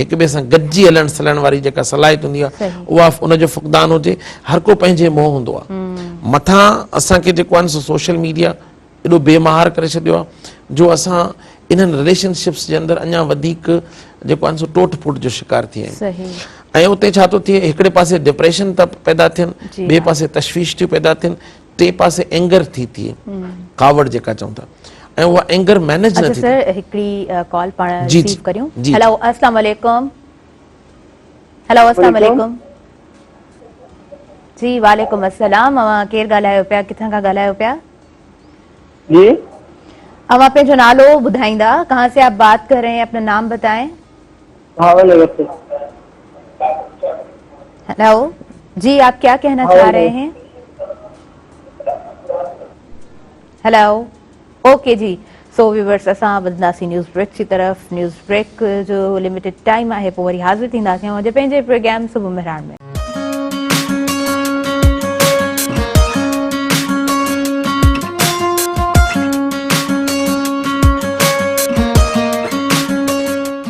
هڪ ٻئي سان گڏجي هلڻ سلڻ واري جيڪا صلاحيت هوندي آهي اها ان جو فقدان هجي هر ڪو پنهنجي منهن هوندو آهي مٿان اسان کي جيڪو آهي نه سو سوشل ميڊيا ايڏو بي مهار ڪري ڇڏيو آهي جو اسان انهن رليشن شپس جي اندر اڃا وڌيڪ جيڪو آهي سو ٽوٽ ڦوٽ جو شڪار ٿي ويا آهيون ۽ اتي ڇا ٿو ٿئي هڪڙي پاسي ڊپريشن ٿا پيدا ٿين ٻئي پاسي تشويش ٿيون پيدا ٿين ٽئين پاسي اينگر ٿي ٿئي ڪاوڙ جيڪا چئون ٿا ۽ اها اينگر مينيج نه ٿي ٿئي اچا سر هڪڙي ڪال پاڻ ريسيو ڪريون هيلو السلام عليڪم هيلو السلام عليڪم جي وعليڪم السلام اوهان ڪير ڳالهايو پيا ڪٿان کان ڳالهايو پيا جي اوهان پنهنجو نالو ٻڌائيندا ڪهان سي آپ بات ڪر رهي هين اپنا نام بتائين ڀاول وٽ. هلو جي آپ ڪيا ڪهنا چاهه رهي هين. هلو اوڪي جي سو ويورس اسان ٻڌنداسين نيوز بريڪ جي طرف نيوز بريڪ جو لميٽيڊ ٽائيم آهي پوء وري حاضر ٿينداسين اڄ پنهنجي پروگرام صبح مهراڻ ۾